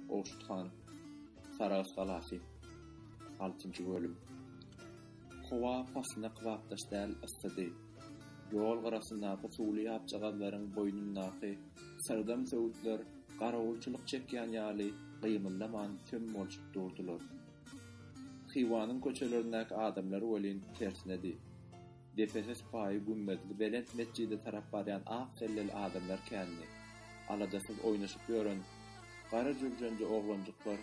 Gowşut han, Sarahs galasy, altynjy bölüm. Howa paslyna kybapdaş däl yssydy. Ýol gyrasyndaky suwly ýapjagazlaryň boýnundaky syrdam söwütler garawulçylyk çekýän ýaly gymyldaman söm bolşup durdular. Hywanyň köçelerindäki adamlar welin tersinedi. Depesi sypaýy gümmezli belent metjide tarap barýan ak selleli adamlar kändi. Aladasyz oýnaşyp ýören gara jürjenje oglanjyklar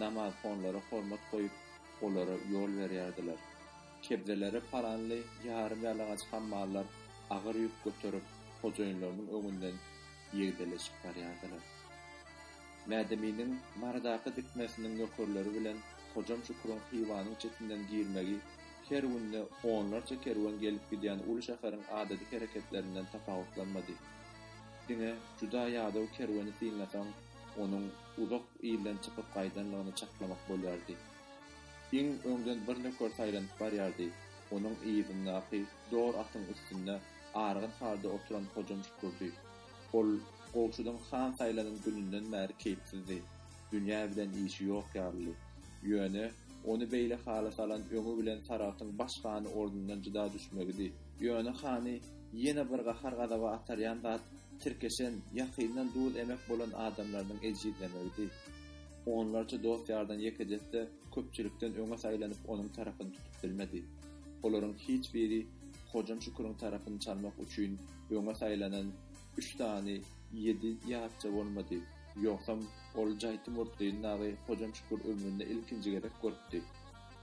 namazhonlara hormat goýup, olara ýol berýärdiler. Kebzelere paranly ýarym-ýalaňaç hammallar agyr ýük göterip, hojaýynlarynyň öňünden ýegdeleşip barýardylar. Mädeminiň Marydaky dikmesiniň nökerleri bilen Hojam Şüküriň Hywanyň çetinden girmegi Her günde onlarça kerwen gelip-gidýän uly şäheriň adaty hereketlerinden tapawutlanmady. Diňe juda ýadaw kerweni synlasaň, onuň uzak ilden çykyp gaýdanlygyny çaklamak bolýardy. Iň öňden bir nöker saýlanyp barýardy, onuň yzyndaky dor atyň üstünde argyn halda oturan Hojam Şükürdi. Ol Gowşudyň han saýlanan gününden bäri keýpsizdi. Dünýä bilen işi ýok ýalydy. Ýöne, ony beýle hala salan öňi bilen Saragtyň baş hany ordundan jyda düşmegidi. Ýöne hany ýene bir gahar-gazaba atarýan zat tirkeşen, ýakyndan duz emek bolan adamlarynyň ejizlemegidi. Onlarça dost-ýardan ýekejesi-de köpçülikden öňe saýlanyp onuň tarapyny tutup bilmedi. Olaryň hiç biri Hojam Şüküriň tarapyny çalmak üçin öňe saýlanan Üç sany ýedi ýarça bolmady. Ýogsam, ol jaýty murtly Nagy Hojam Şükür ömründe ilkinji gezek görüpdi.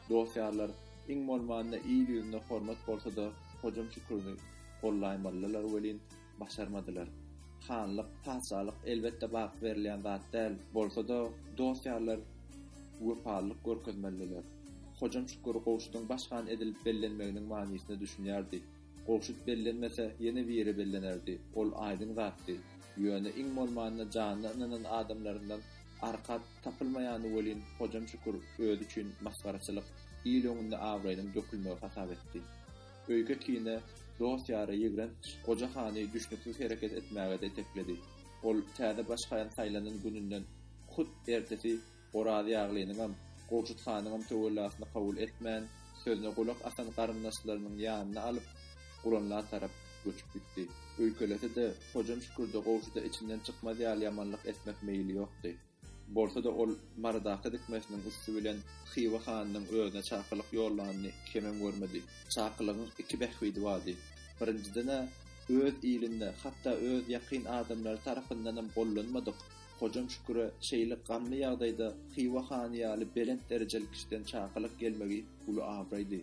Dost-ýarlar, iň bolmanda il ýüzünde hormat bolsa-da, Hojam Şüküri gollaýmalydylar welin, başarmadylar. Hanlyk, patyşalyk elbetde baky berilýän zat däl, bolsa-da, dost-ýarlar wepalylyk görkezmelidiler. Hojam Şükür Gowşudyň baş han edilip bellenmeginiň manysyna düşünýärdi. Gowşut bellenmese, ýene biri bellenerdi, ol aýdyň zatdy. Ýöne iň bolmanda janyna ynanan adamlaryndan arkat tapylmaýany welin Hojam Şükür özi üçin masgaraçylyk, il öňünde abraýynyň dökülmegi hasap etdi. Öýke-kine, dost-ýara ýigrenç goja hany düşnüksiz hereket etmäge-de itekledi. Ol täze baş haýan saýlanan gününden hut ertesi Oraz ýaglynyňam, Gowşut hanyňam töwellasyny kabul etmän, sözüne gulak asan garyndaşlarynyň ýanyna alyp, Guranla tarap göçüp gitdi. Öýkelese-de, Hojam Şükürde Gowşuda içinden çykmaz ýaly ýamanlyk etmek meýli ýokdy. Bolsa-da, ol Marydaky dikmesiniň üsti bilen Hywa hanynyň özüne çakylyk ýollanyny kemem görmedi. Çakylygyň iki bähbidi bardy. Birinjiden-ä, öz ilinde, hatda öz ýakyn adamlary tarapyndanam gollanmadyk, Hojam Şüküre şeýle gamly ýagdaýda Hywa hany ýaly belent derejeli kişiden çakylyk gelmegi uly abraýdy.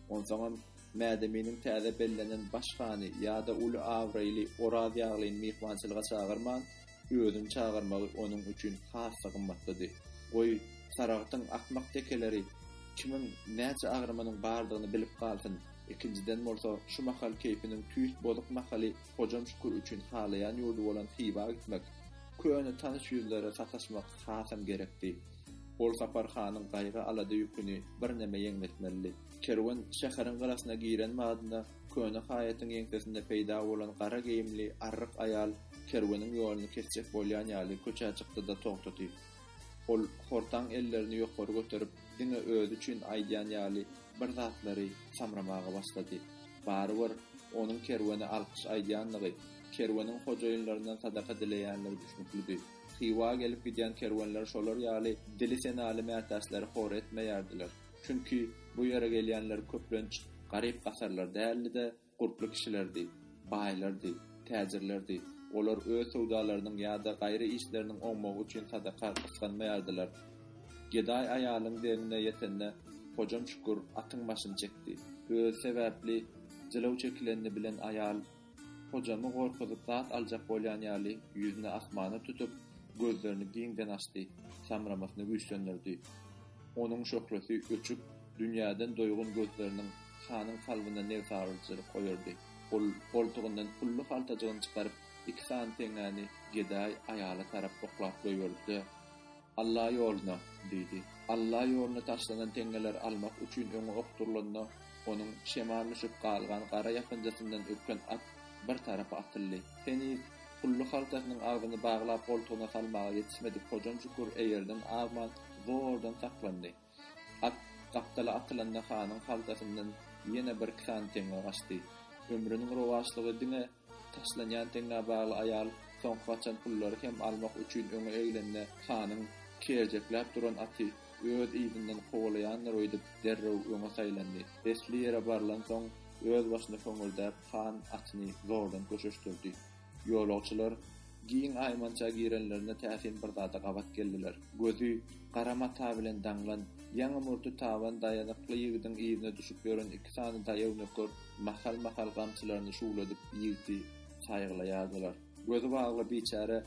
Onsoňam, Mädeminiň täze bellenen baş hany ýa-da uly abraýly Oraz ýaglyny myhmançylyga çagyrman, özüni çagyrmagy onuň üçin has-da gymmatlydy. Goý, Saragtyň akmak tekeleri kimiň näçe agramynyň bardygyny bilip galsyn, ikinjiden bolsa, şu mahal keýpiniň tüýs bozuk mahaly Hojam Şükür üçin halaýan ýurdy bolan Hywa gitmek, köne tanyş ýüzlere sataşmak hasam gerekdi. Ol Sapar hanyň gaýgy-alada ýüküni birneme ýeňletmelidi. Kerwen şäheriň gyrasyna giren badyna, köne haýatyň ýeňsesinde peýda bolan gara geýimli arryk aýal Kerweniň ýoluny kesjek bolýan ýaly köçä çykdy-da togtady. Ol hortaň ellerini ýokary göterip, diňe özi üçin aýdýan ýaly bir zatlary samramaga başlady. Barybir, onuň kerwene alkyş aýdýandygy, kerweniň hojaýynlaryndan sadaka dileýändigi düşnüklidi. Hywa gelip gidýän kerwenler şolar ýaly dili senaly mätäçleri hor etmeýärdiler. Çünki, bu ýere gelýänler köplenç garyp-gasarlar däldi-de, Gurply kişilerdi, baýlardy, täjirlerdi. Olar öz söwdalarynyň ýa-da gaýry işleriniň oňmagy üçin sadaka gysganmaýardylar. Gedaý aýalyň deňine ýetende, Hojam Şükür atyň başyny çekdi. Özi sebäpli jylaw çekilenini bilen aýal, Hojamy gorkuzyp zat aljak bolýan ýaly, ýüzüni asmana tutup, gözlerini giňden açdy, samramasyny güýçlendirdi. Onuň şöhlesi öçüp, Dünýäden doýgun gözleriniň hanyň kalbyna nebsagyryjylyk oýardy. Ol goltugyndan pully haltajygyny çykaryp, iki sany teňňäni gedaý aýala tarap oklap goýberdi-de, Alla ýoluna! diýdi. Alla ýoluna taşlanan teňňeleri almak üçin öňe okdurylanda, onuň şemal düşüp galgan gara ýapynjasyndan ürken at bir tarapa atyldy. Heniz pully haltasynyň agzyny baglap goltugyna salmaga ýetişmedik Hojanşükür eýerden azman, zordan saklandy. At gapdala atylanda hanyň haltasyndan ýene bir kran teňňe gaçdy. Ömrüniň rowaçlygy diňe taşlanýan teňňä bagly aýal soňky gaçan pullary hem almak üçin öňe eglende hanyň kerjekläp duran aty öz yzyndan kowalaýandyr öýdüp derrew öňe saýlandy. Esli ýere barlansoň özbaşyna höňürdäp han atyny zordan köşeşdirdi. Ýolagçylar giň aýmança girenlerinde täsin bir zada gabat geldiler. Gözi gara mata bilen daňlan, ýaňy murty taban daýazykly ýigidiň yzyna düşüp ýören iki sany daýaw nöker mahal-mahal gamçylaryny şuwladyp ýigdi saýgalaýardylar. Gözi bagly biçäre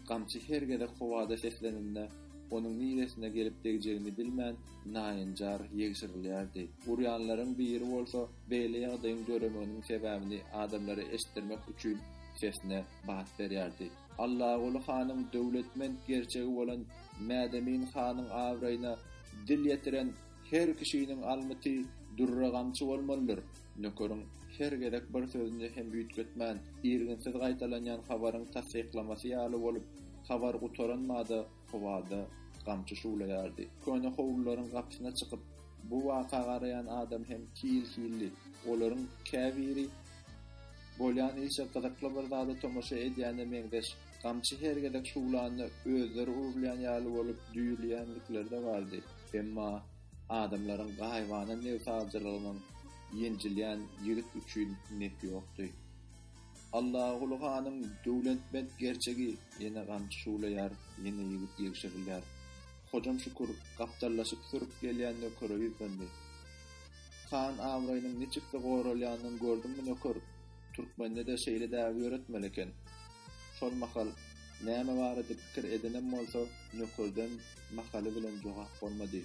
gamçy her gezek howada seslenende, onuň niresine gelip degjegini bilmän, naýynjar ýegşirilýärdi. Urýanlaryň biri bolsa, Beýle ýagdaýyň döremeginiň sebäbini adamlara eşitdirmek üçin sesine bat berýärdi. Allaguly hanyň döwletment gerçegi bolan Mädemin hanyň abraýyna dil ýetiren her kişiniň almyty dürre gamçy bolmalydyr. Nökeriň her gezek bir sözüni hem üýtgetmän, irginsiz gaýtalanýan habaryň tassyklamasy ýaly bolup, habar gutaran bada Howada gamçy şuwlaýardy. Köne howlularyň gapysyna çykyp, bu waka garaýan adam hem hil-hildi. Olaryň käbiri bolýan işe gyzykly bir zada tomaşa edýäne meňzeş. Gamçy her gezek şuwlanda özleri urulýan ýaly bolup düýrleýändikleri-de bardy. Emma adamlaryň gaýybana nebsaljylygynyň ýenjilýän ýigit üçin nepi ýokdy. Allaguly hanyň döwletment gerçegi ýene gamçy şuwlaýar, ýene ýigit ýegşirilýär. Hojam Şükür gapdallaşyp sürüp gelýän nökere ýüzlendi. Han abraýynyň niçiksi goralýanyny gördüňmi, nöker? Türkmende-de şeýle däbi ýöretmeli eken. Şol mahal näme barada pikir edenem bolsa, nökerden mahaly bilen jogap bolmady.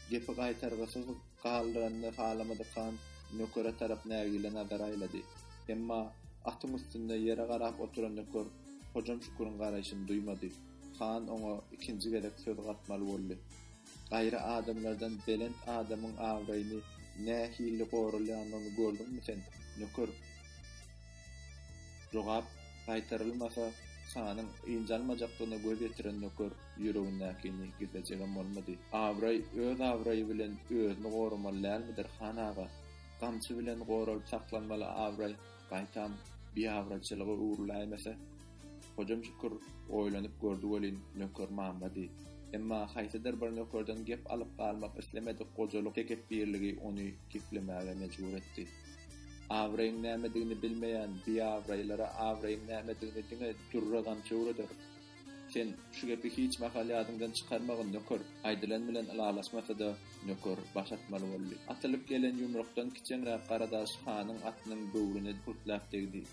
Gepi gaýtargysyz Galdyranyny halamadyk han nökere tarap nägile nazar aýlady. Emma atyň üstünde ýere garap oturan nöker Hojam Şüküriň garaýşyny duýmady. Han oňa ikinji gezek söz gatmaly boldy. Gaýry adamlardan belent adamyň abraýyny nähili goralýanyny gördüňmi sen, nöker? Jogap gaýtarylmasa, hanyň ynjalmajakdygyna göz ýetiren nöker Ýüregindäkini gizlejegem bolmady. Abraý öz abraýy bilen özüni goramaly dälmidir, han aga? Gamçy bilen goralyp saklanmaly abraý, gaýtam, biabraýçylyga öwrüläýmese? Hojam Şükür oýlanyp gördi welin, nöker mamlady. Emma haýsydyr bir nökerden gep alyp galmak islemedik gojalyk tekepbirligi ony geplemäge mejbur etdi. Abraýyň nämedigini bilmeýän biabraýlara abraýyň nämedigini diňe dürre-gamçy öwreder. Sen şu gepi hiç mahal ýadyňdan çykarmagyn, nöker! Aýdylan bilen ylalaşmasa-da, nöker baş atmaly boldy. Atylyp gelen ýumrukdan kiçeňräk Garadaş hanyň atynyň böwrüne hürtläp degdi.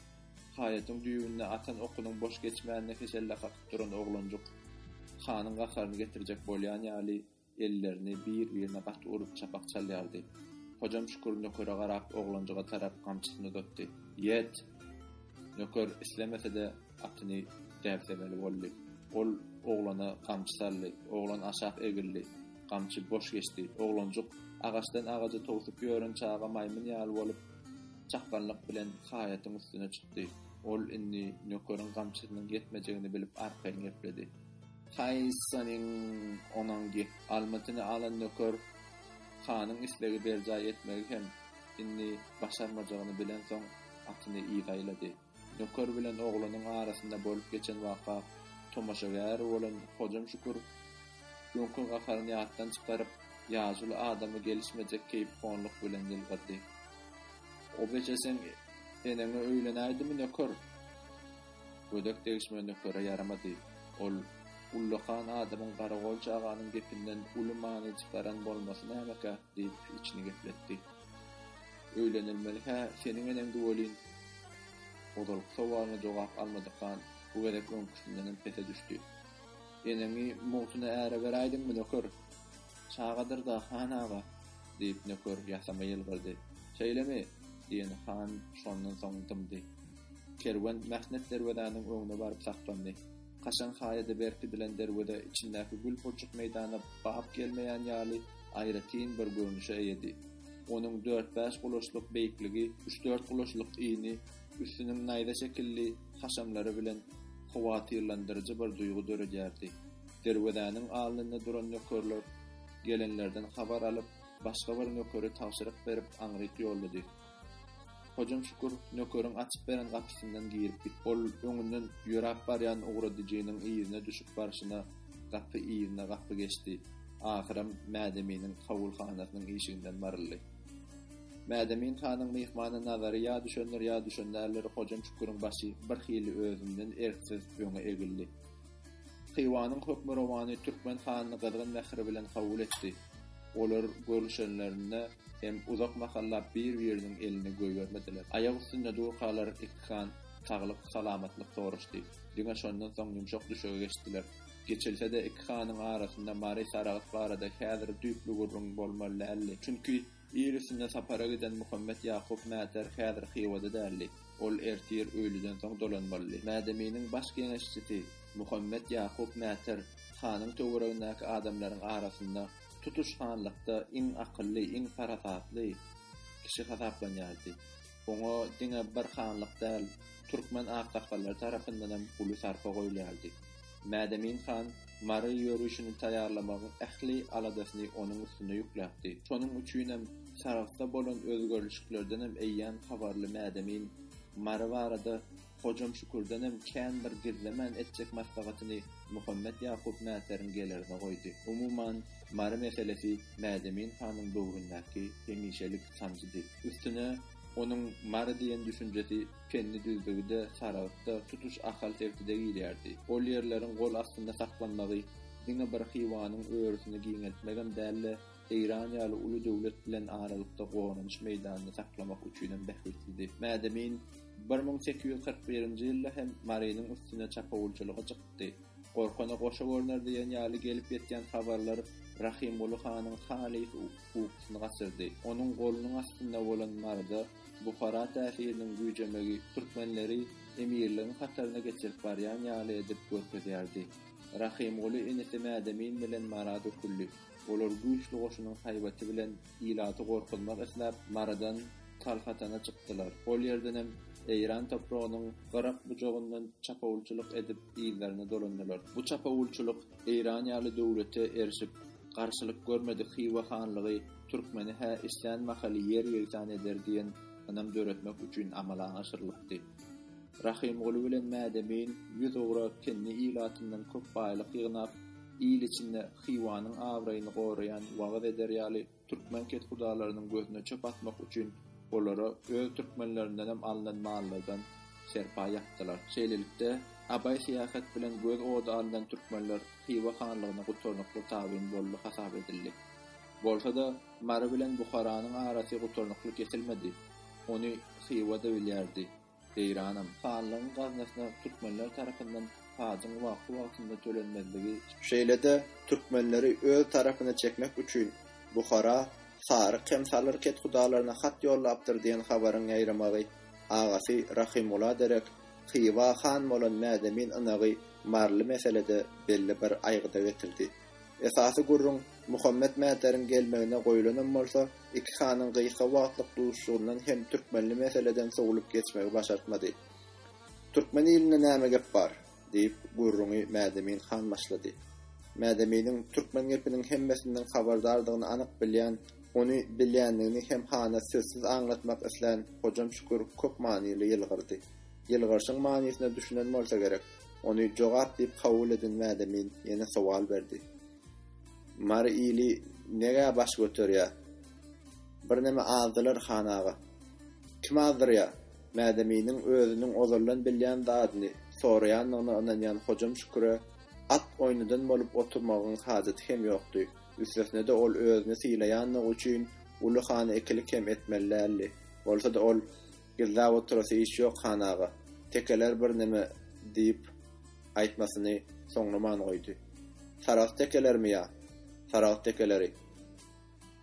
Haýatyň düýbünde atan okunyň boş geçmänine heşelle kakyp duran oglanjyk, hanyň gaharyny getirjek bolýan ýaly, Ellerini bir-birine gaty urup çapak çalýardy. Hojam Şükür nökere garap oglanjyga tarap gamçysyny uzatdy. Ýet! Nöker islemese-de atyny däbsemeli boldy. Ol oglana gamçy saldy. Oglan aşak egildi. Gamçy boş geçdi. Oglanjyk agaçdan agaja towsup ýören çaga maýmyn ýaly bolup çakganlyk bilen haýatyň üstüne çykdy. Ol indi nökeriň gamçysynyň ýetmejegini bilip arkaýyn gepledi. Haý seniň onaň gep. Almytyny alan nöker hanyň islegi berjaý etmegi hem indi başarmajagyny bilensoň atyny yzaýlady. Nöker bilen oglanyň arasynda bolup geçen waka tomaşagär bolan Hojam Şükür öňki gaharyny ýatdan çykaryp, ýazuly adama gelişmejek keýpihonlyk bilen ýylgyrdy. Obeje seň eneňe öýlenäýdimi nöker? Gödek degişme nökere ýaramady. Ol ullakan adamyň garagolçy aganyň gepinden uly many çykaran bolmasy nämekä? diýip, içini gepletdi. Öýlenilmeli-hä seniň eneňdi welin? Ozalky sowalyna jogap almadyk han bu gezek öňküsindenem pese düşdi. Eneňi mugtyna äre beräýdiňmi, nöker? Çagadyr-da, han aga, diýip, nöker ýasama ýylgyrdy. Şeýlemi? diýen han şondan soň dymdy. Kerwen mähnet derwezäniň öňüne baryp saklandy. Kaşaň haýada berkidilen derweze içindäki gül purçuk meýdana bap gelmeýän ýaly aýratyn bir görnüşe eýedi. Onuň dört-bäş gulaçlyk beýikligi, üç-dört gulaçlyk yny, üstüniň naýza şekilli haşamlary bilen howatyrlandyryjy bir duýgy döredýärdi. Derwezäniň alnynda duran nökerler gelenlerden habar alyp, başga bir nökeri tabşyryk berip aňryk ýollady. Hojam Şükür nökeriň açyp beren gapysyndan girip gitdi. Ol öňünden ýöräp barýan ugradyjynyň yzyna düşüp barşyna gapy yzyna gapy geçdi. Ahyram Mädeminiň kabulhanasynyň işiginden baryldy. Mädemin hanyň myhmana nazary ýa düşendir ýa düşen däldir, Hojam Şüküriň başy birhili özünden erksiz öňe egildi. Hywanyň hökmürowany türkmen hanyny gyzgyn mähir bilen kabul etdi. Olar görüşenlerinde hem uzak mahallap bir-biriniň elini goýbermediler. Aýak üstünde durkalar iki han saglyk-salamatlyk soraşdy. Diňe şondan soň ýumşak düşege geçdiler. Geçilse-de, iki hanyň arasynda Mary Saragt barada häzir düýpli gürrüň bolmaly däldi. Çünki. Birisinde sapara giden Muhammet Ýakup Mäter häzir Hywada däldi. Ol ertir öýlüden soň dolanmalydy. Mädeminiň baş geňeşçisi Muhammet Ýakup Mäter hanyň töweregindäki adamlaryň arasynda tutuş hanlykda iň akylly, iň parasatly kişi hasaplanýardy. Oňa diňe bir hanlyk däl, türkmen aksakgallary tarapyndanam uly sarpa goýulýardy. Mädemin han Mary ýörişini taýýarlamagyň ähli aladasyny onuň üstüne ýükläpdi. Şonuň üçinem Saragtda bolan özgerlişiklerdenem eýýäm habarly Mädemin Mary barada Hojam Şükürdenem kän bir gizlemän etjek maslahatyny Muhammet Ýakup mätäriň gelerine goýdy. Umuman, Mary meselesi Mädemin hanyň böwründäki hemişelik sanjydy. Üstüne, onuň Mary diýen düşünjesi Penni düzlügi-de, Saragt-da, tutuş Ahal sebti-de girýärdi. Ol ýerleriň gol astynda saklanmagy diňe bir Hywanyň örüsini giňeltmegem däl-de, Eýran ýaly uly döwlet bilen aralykda goranyş meýdanyny saklamak üçinem bähbitlidi. Mädemin bir müň sekiz ýüz kyrk birinji ýylda hem Marynyň üstüne çapawulçylyga çykdy. Gorkana goşa görner diýen ýaly gelip ýetýän habarlar Rahymguly hanyň halys ukusyny gaçyrdy. Onuň golunyň astynda bolan Maryda Buhara täsiriniň güýjemegi türkmenleri emirligiň hataryna geçirip barýan ýaly edip görkezýärdi. Rahymguly inisi Mädemin bilen Mara döküldi. Olar güýçli goşunyň haýbaty bilen ilaty gorkuzmak isläp, Marydan Kalhatana çykdylar. Ol ýerdenem Eýran topragynyň gyrak bujagyndan çapawulçylyk edip yzlaryna dolandylar. Bu çapawulçylyk Eýran ýaly döwlete erişip, garşylyk görmedik Hywa hanlygy türkmeni-hä islän mahaly ýer-ýegsan eder diýen ynam döretmek üçin amala aşyrylypdy. Rahymguly bilen Mädemin ýüz ugra kendi ilatyndan köp baýlyk ýygnap, il içinde Hywanyň abraýyny goraýan, wagyz eder ýaly türkmen kethudalarynyň gözüne çöp atmak üçin olara öz türkmenlerindenem alnan mallardan serpaý ýapdylar. Şeýlelikde, abaý syýahat bilen göz ody alnan türkmenler Hywa hanlygyna gutarnykly tabyn boldy hasap edildi. Bolsa-da, Mary bilen Buharanyň arasy gutarnykly kesilmedi. Ony Hywa-da bilýärdi. Eýranam, hanlygyň gaznasyna türkmenler tarapyndan pajyň wagtly-wagtynda tölenmezligi, şeýle-de türkmenleri öz tarapyna çekmek üçin Buhara saryk hem salyr kethudalaryna hat ýollapdyr diýen habaryň ýaýramagy, agasy Rahymgula derek Hywa han bolan Mädemin ynagy Maryly meselede belli bir aýgyda getirdi. Esasy gürrüň Muhammet Mätäriň gelmegine goýlanam bolsa, iki hanyň gysga wagtlyk duşuşygyndan hem türkmenli meseleden sowlup geçmegi başartmady. Türkmen ilinde näme gep bar? diýip, gürrüňi Mädemin han başlady. Mädeminiň türkmen gepiniň hemmesinden habardardygyny anyk bilýän, ony bilýändigini hem hana sözsüz aňlatmak islän Hojam Şükür köp manyly ýylgyrdy. Ýylgyryşyň manysyna düşünen bolsa gerek. Ony jogap diýip kabul eden Mädemin ýene sowal berdi. Mary ili negä baş göterýär? Birneme azdylar han aga. Kim azdyrýar? Mädeminiň özüniň ozaldan bilýän zadyny soraýandygyna ynanýan Hojam Şüküre at oýnadan bolup oturmagyň hajaty hem ýokdy, üstesine-de ol özüni sylaýandygy üçin Uly hany ikilik hem etmeli däldi. Bolsa-da ol Gizläp oturasy iş ýok, han aga. Tekeler birneme diýip, aýtmasyny soňlaman goýdy. Saragt tekelermi ýa? Saragt tekeleri.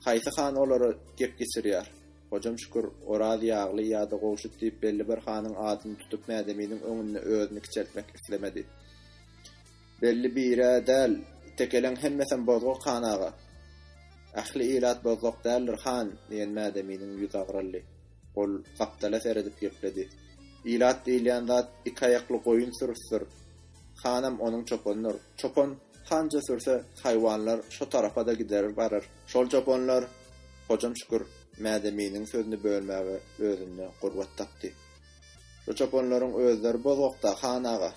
Haýsy han olara gep geçirýär? Hojam Şükür, Oraz ýagly ýa-da Gowşut diýip belli bir hanyň adyny tutup Mädeminiň öňünde özüni kiçeltmek islemedi. Belli bir-ä däl, tekeleň hemmesem bozgak, han aga. Ähli ilat bozgak däldir, han, diýen Mädeminiň ýüzi agraldy. Ol gapdala seredip gepledi. Ilat diýilýän zat iki aýakly goýun sürüsidir. Hanam onuň çopanydyr. Çopan hança sürse, haýwanlar şo tarapa-da gider barar. Şol çopanlar, Hojam Şükür Mädeminiň sözüni bölmäge özünde gurbat tapdy. Şo çopanlaryň özleri bozgakda, han aga.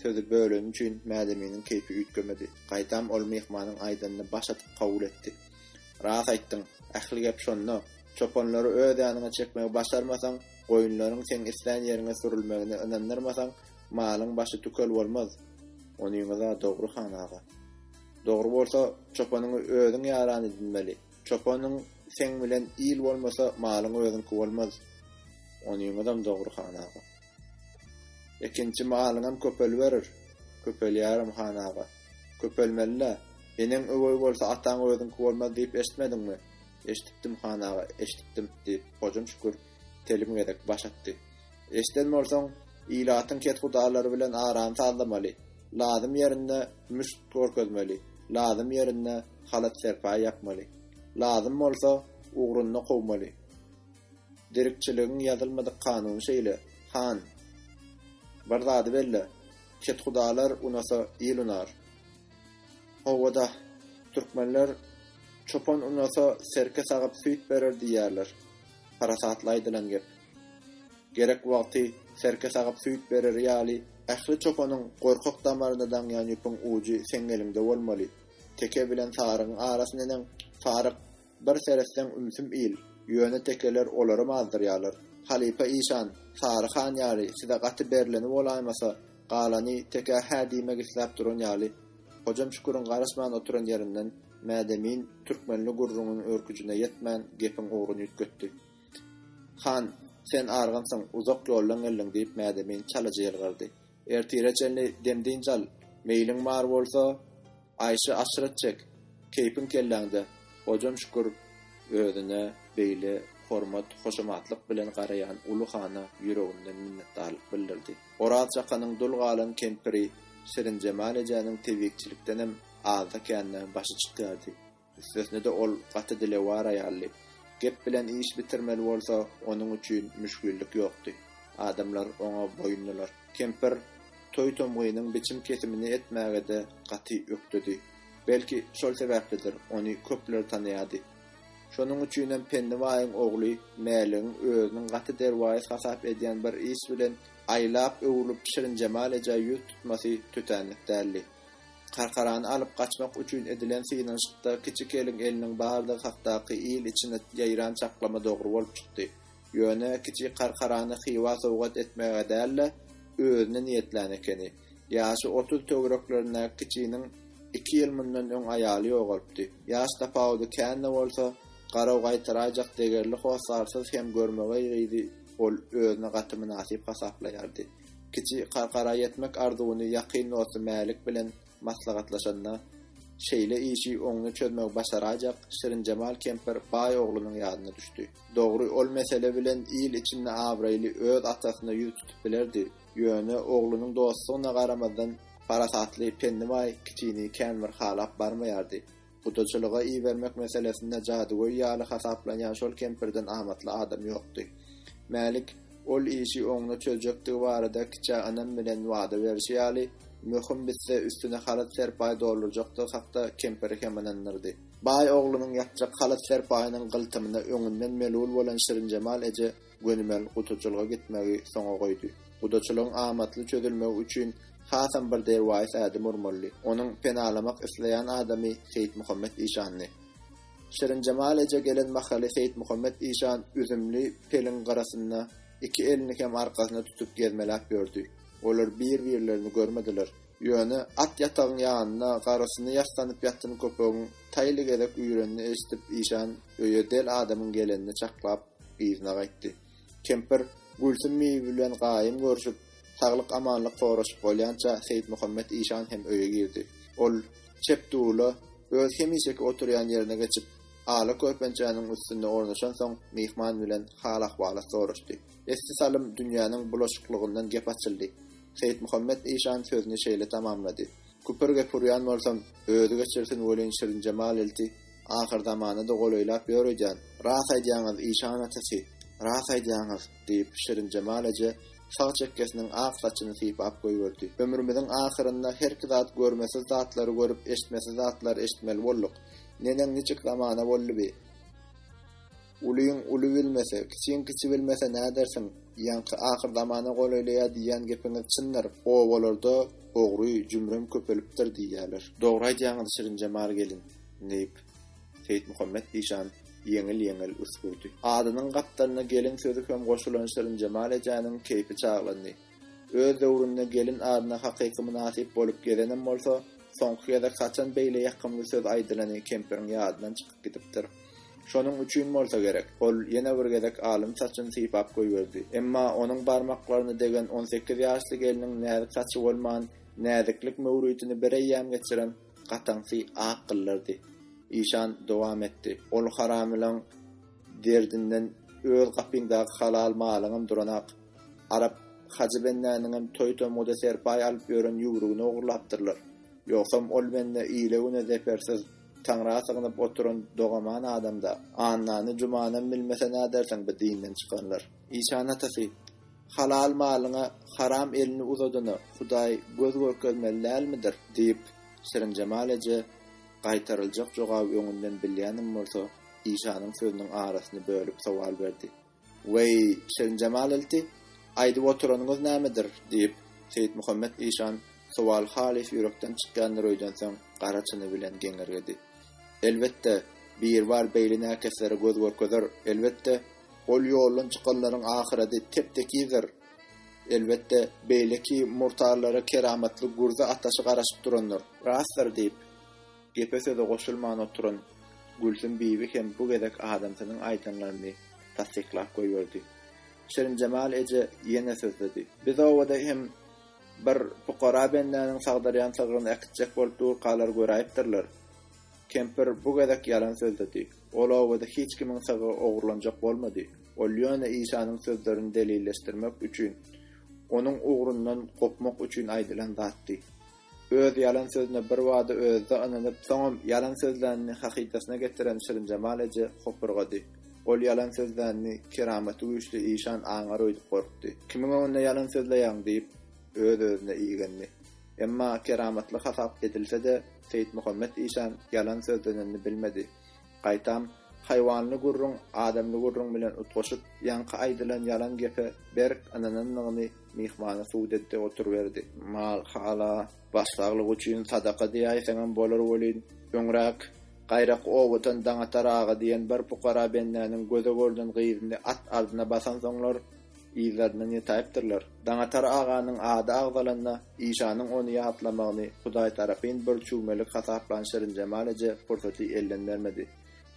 Sözi böleni üçin Mädeminiň keýpi üýtgemedi. Gaýtam ol myhmanyň aýdanyny baş atyp kabul etdi. Ras aýtdyň. Ähli gep şonda. Çopanlary öz ýanyňa çekmegi başarmasaň, goýunlaryň seň islän ýeriňe sürülmegine ynandyrmasaň, malyň başy tükel bolmaz. Onyňyz-a dogry, han aga. Dogry bolsa, çopanyňy özüň ýaran edinmeli. Çopanyň seň bilen il bolmasa, malyň özüňki bolmaz. Onyňyzam dogry, han aga. Ekinçi malyňam köpeliberer. Köpelýärem, han aga. Köpelmeli-le. Eneň öweý bolsa, ataň özüňki bolmaz diýip eşitmediňmi? Eşidipdim, han aga, eşidipdim, diýip, Hojam Şükür telim gezek baş atdy. Eşiden bolsaň, ilatyň kethudalary bilen arany sazlamaly, lazym ýerinde müşt görkezmeli, lazym ýerinde halat-serpaý ýapmaly. Lazym bolsa, ugrunda kowmaly. Derkçiligiň ýazylmadyk kanuny şeýle, han. Bir zady belle, kethudalar unasa il unar. Howa-dah, türkmenler Çopan unasa serke sagyp süýt berer diýýärler. Parasatly aýdylan gep. Gerek wagty serke sagyp süýt bereri ýaly, ähli çopanyň gorkak damarynda daňýan ýüpüň ujy seň eliňde bolmaly. Teke bilen sarygyň arasyndeneň saryk Bir seretseň ümsüm il, ýöne tekeler olaram azdyrýarlar. Halypa işan, Sary han ýaly size gaty berleni bolaýmasa, galany tekä hä diýmek isläp duran ýaly. Hojam Şüküriň garaşman oturan ýerinden Mädemin türkmenli gürrüňiň örküjine ýetmän gepiň ugruny üýtgetdi. Han, sen argynsyň, uzak ýoldan geldiň diýip Mädemin çalyja ýylgyrdy. Ertire çenli dem-dynç al, meýliň bar bolsa, aýşy-aşret çek, keýpiň kelläňde. Hojam Şükür özüne beýle hormat-hoşamatlyk bilen garaýan uly hana ýüreginden minnetdarlyk bildirdi. Oraz çakanyň dul galan kempiri Şirinjemal ejäniň tebikçilikdenem azda-kände başy çykýardy. Üstesine-de ol gaty dilewar aýaldy. Gep bilen iş bitirmeli bolsa, onuň üçin müşgillik ýokdy. Adamlar oňa boýundylar. Kempir Toýtomgynyň biçim-kesimini etmäge-de gaty ökdedi. Belki, şol sebäplidir, ony köpler tanaýardy. Şonuň üçinem Penni baýyň ogly Mäligiň özüniň gaty derwaýys hasap edýän bir iş bilen aýlap-öwrülip Şirinjemal ejä ýüz tutmasy tötänlik däldi. Karkarany alyp gaçmak üçin edilen synanyşykda Kiçi Keliň eliniň bardygy hakdaky il içine ýaýran çaklama dogry bolup çykdy. Ýöne Kiçi Karkarany Hywa sowgat etmäge däl-de, özüne niýetlän ekeni. Ýaşy otuz töwereklerindäki Kiçiniň iki ýyl mundan öň aýaly ýogalypdy. Ýaş tapawudy kän-de bolsa, garaw gaýtaraýjak degerli hossarsyz hem görmegeý gyzy ol özüne gaty mynasyp hasaplaýardy. Kiçi Karkara ýetmek arzuwyny ýakyn dosty Mälik bilen maslahatlaşanda, şeýle işi oňly çözmegi başaraýjak Şirinjemal kempir baý oglunyň ýadyna düşdi. Dogry, ol mesele bilen il içinde abraýly öz atasyna ýüz tutup bilerdi, ýöne oglunyň dostlugyna garamazdan, parasatly, pendibaý kiçini känbir halap barmaýardy. Gudaçylyga ibermek meselesinde jadygöý ýaly hasaplanýan şol kempirden amatly adam ýokdy. Mälik ol işi oňuna çözjekdigi barada kiçä ynam bilen wada berşi ýaly, möhüm bitse üstüne halat serpaý doldurjakdygy hakda kempiri hem ynandyrdy. Baý oglunyň ýapjak halat serpaýynyň gyltymyna öňünden melul bolan Şirinjemal eje Gönümel gudaçylyga gitmegi soňa goýdy. Gudaçylygyň amatly çözülmegi üçin hasam bir derwaýys ädim urmalydy. Onuň penalamak isleýän adamy Seýitmuhammet işandy. Şirinjemal eje gelen mahaly Seýitmuhammet işan üzümli peliň gyrasynda iki elini hem arkasyna tutup gezmeläp ýördi. Olar bir-birlerini görmediler. Ýöne at ýatagyň ýanynda garysyny ýassanyp ýatan köpegiň taýly gezek üýrenini eşidip işan öýe del adamyň gelenini çaklap, Yzyna gaýtdy. Kempir, Gülsüm bibi bilen gaýym görşüp, saglyk-amanlyk soraşyp bolýança Seýitmuhammet işan hem öýe girdi. Ol, çep dula, öz hemişeki oturýan ýerine geçip, ala körpençäniň üstünde ornaşansoň, myhman bilen hal-ahwalat soraşdy. Esli salym dünýäniň bulaşyklygyndan gep açyldy. Seýitmuhammet işan sözüni şeýle tamamlady, Küpür-gep urýan bolsam, özi geçirsin welin Şirinjemal ilti Ahyr zamana-da golaýlap ýör öýdýän. Ras aýdýaňyz, işan atasy, ras aýdýaňyz, diýip, Şirinjemal eje sag çekgesiniň ak saçyny sypap goýberdi. Ömrümiziň ahyrynda herki zat görmesiz zatlary görüp, eşitmesiz zatlary eşitmeli bolduk. Neneň niçik zamana boldy bi? Ulyň uly bilmese, kiçiň kiçi bilmese nädersiň? Ýaňky ahyr zamana golaýlaýar diýýän gepiňiz çyndyr. Obalarda ogry, jümrem köpelipdir diýýärler. Dogry aýdýaňyz Şirinjemal gelin, diýip, Seýitmuhammet işan ýeňil-ýeňil üsgürdi. Adynyň gapdalyna gelin sözi hem goşulan Şirinjemal ejäniň keýpi çaglandy. Öz döwründe gelin adyna hakyky mynasyp bolup gezenem bolsa, soňky gezek haçan beýle ýakymly söz aýdylany kempiriň ýadyndan çykyp gidipdir. Şonuň üçin bolsa gerek, ol ýene bir gezek alyn saçyny sypap goýberdi. Emma onuň barmaklaryny degen on sekiz ýaşly gelniň näzik saçy bolman, näziklik möwritini bireýýäm geçiren gataňsy ak gyllardy. Işan dowam etdi. Ol haramylaň derdinden öz gapyňdaky halal malyňam duranak. Arap Hajy bendäniňem toý-tomguda serpaý alyp ýören ýüwrügini ogurlapdyrlar. Ýogsam ol bende ile-güne zepersiz, Taňra sygnyp oturan dogaman adam-da. Annany, Jumanam bilmese nädersiň bi dinden çykanlar. Işan atasy, Halal malyňa haram elini uzadana Hudaý göz görkezmeli dälmidir? diýip, Şirinjemal eje gaýtaryljak jogaby öňünden bilýänem bolsa, Işanyň sözüniň arasyny bölüp sowal berdi. Weý, Şirinjemal ilti, aýdyp oturanyňyz nämedir? diýip, Seýitmuhammet işan sowal halys ýürekden çykýandyr öýdensoň gara çyny bilen geňirgedi. Elbetde, Biribar beýle näkeslere göz görkezer, elbetde, ol ýoldan çykanlaryň ahyrady tep-tekizdir, elbetde, beýleki murtarlara keramatly gürze ataşy garaşyp durandyr. Rastdyr, diýip, Gepe söze goşulman oturan Gülsüm bibi hem bu gezek adamsynyň aýdanlaryny tassyklap goýberdi. Şirinjemal eje ýene sözledi. Biz obada hem bir pukara bendäniň sagdyrýan sygryny äkitjek bolup durkalary göräýipdirler. Kempir bu gezek ýalan sözledi. Ol obada hiç kimiň sygy ogurlanjak bolmady. Ol ýöne işanyň sözlerini delilleşdirmek üçin, onuň ugrundan gopmak üçin aýdylan zatdy. Öz ýalan sözüne birbada özi-de ynanyp, soňam ýalan sözlänini hakykasyna getiren Şirinjemal eje hopurgady. Ol ýalan sözlänini keramaty güýçli işan aňar öýdüp gorkdy. Kimiň öňünde ýalan sözleýäň? diýip, öz-özüne igendi. Emma keramatly hasap edilse-de, Seýitmuhammet işan ýalan sözlenenini bilmedi. Gaýtam, haýwanly gürrüň adamly gürrüň bilen utgaşyp, ýaňky aýdylan ýalan gepe berk ynananlygyny Myhmana suw depdi, oturyberdi. Mal, hala, baş saglyk üçin sadaka diýäýseňem bolar welin, öňräk Gaýrak obatan Daňatar aga diýen bir pukara bendäniň göze görden gyzyny at ardyna basansoňlar, yzlaryndan ýetaýypdyrlar. Daňatar aganyň ady agzalanda, işanyň ony ýatlamagyny hudaýtarapyn bir çüwmelik hasaplan Şirinjemal eje pursaty elden bermedi.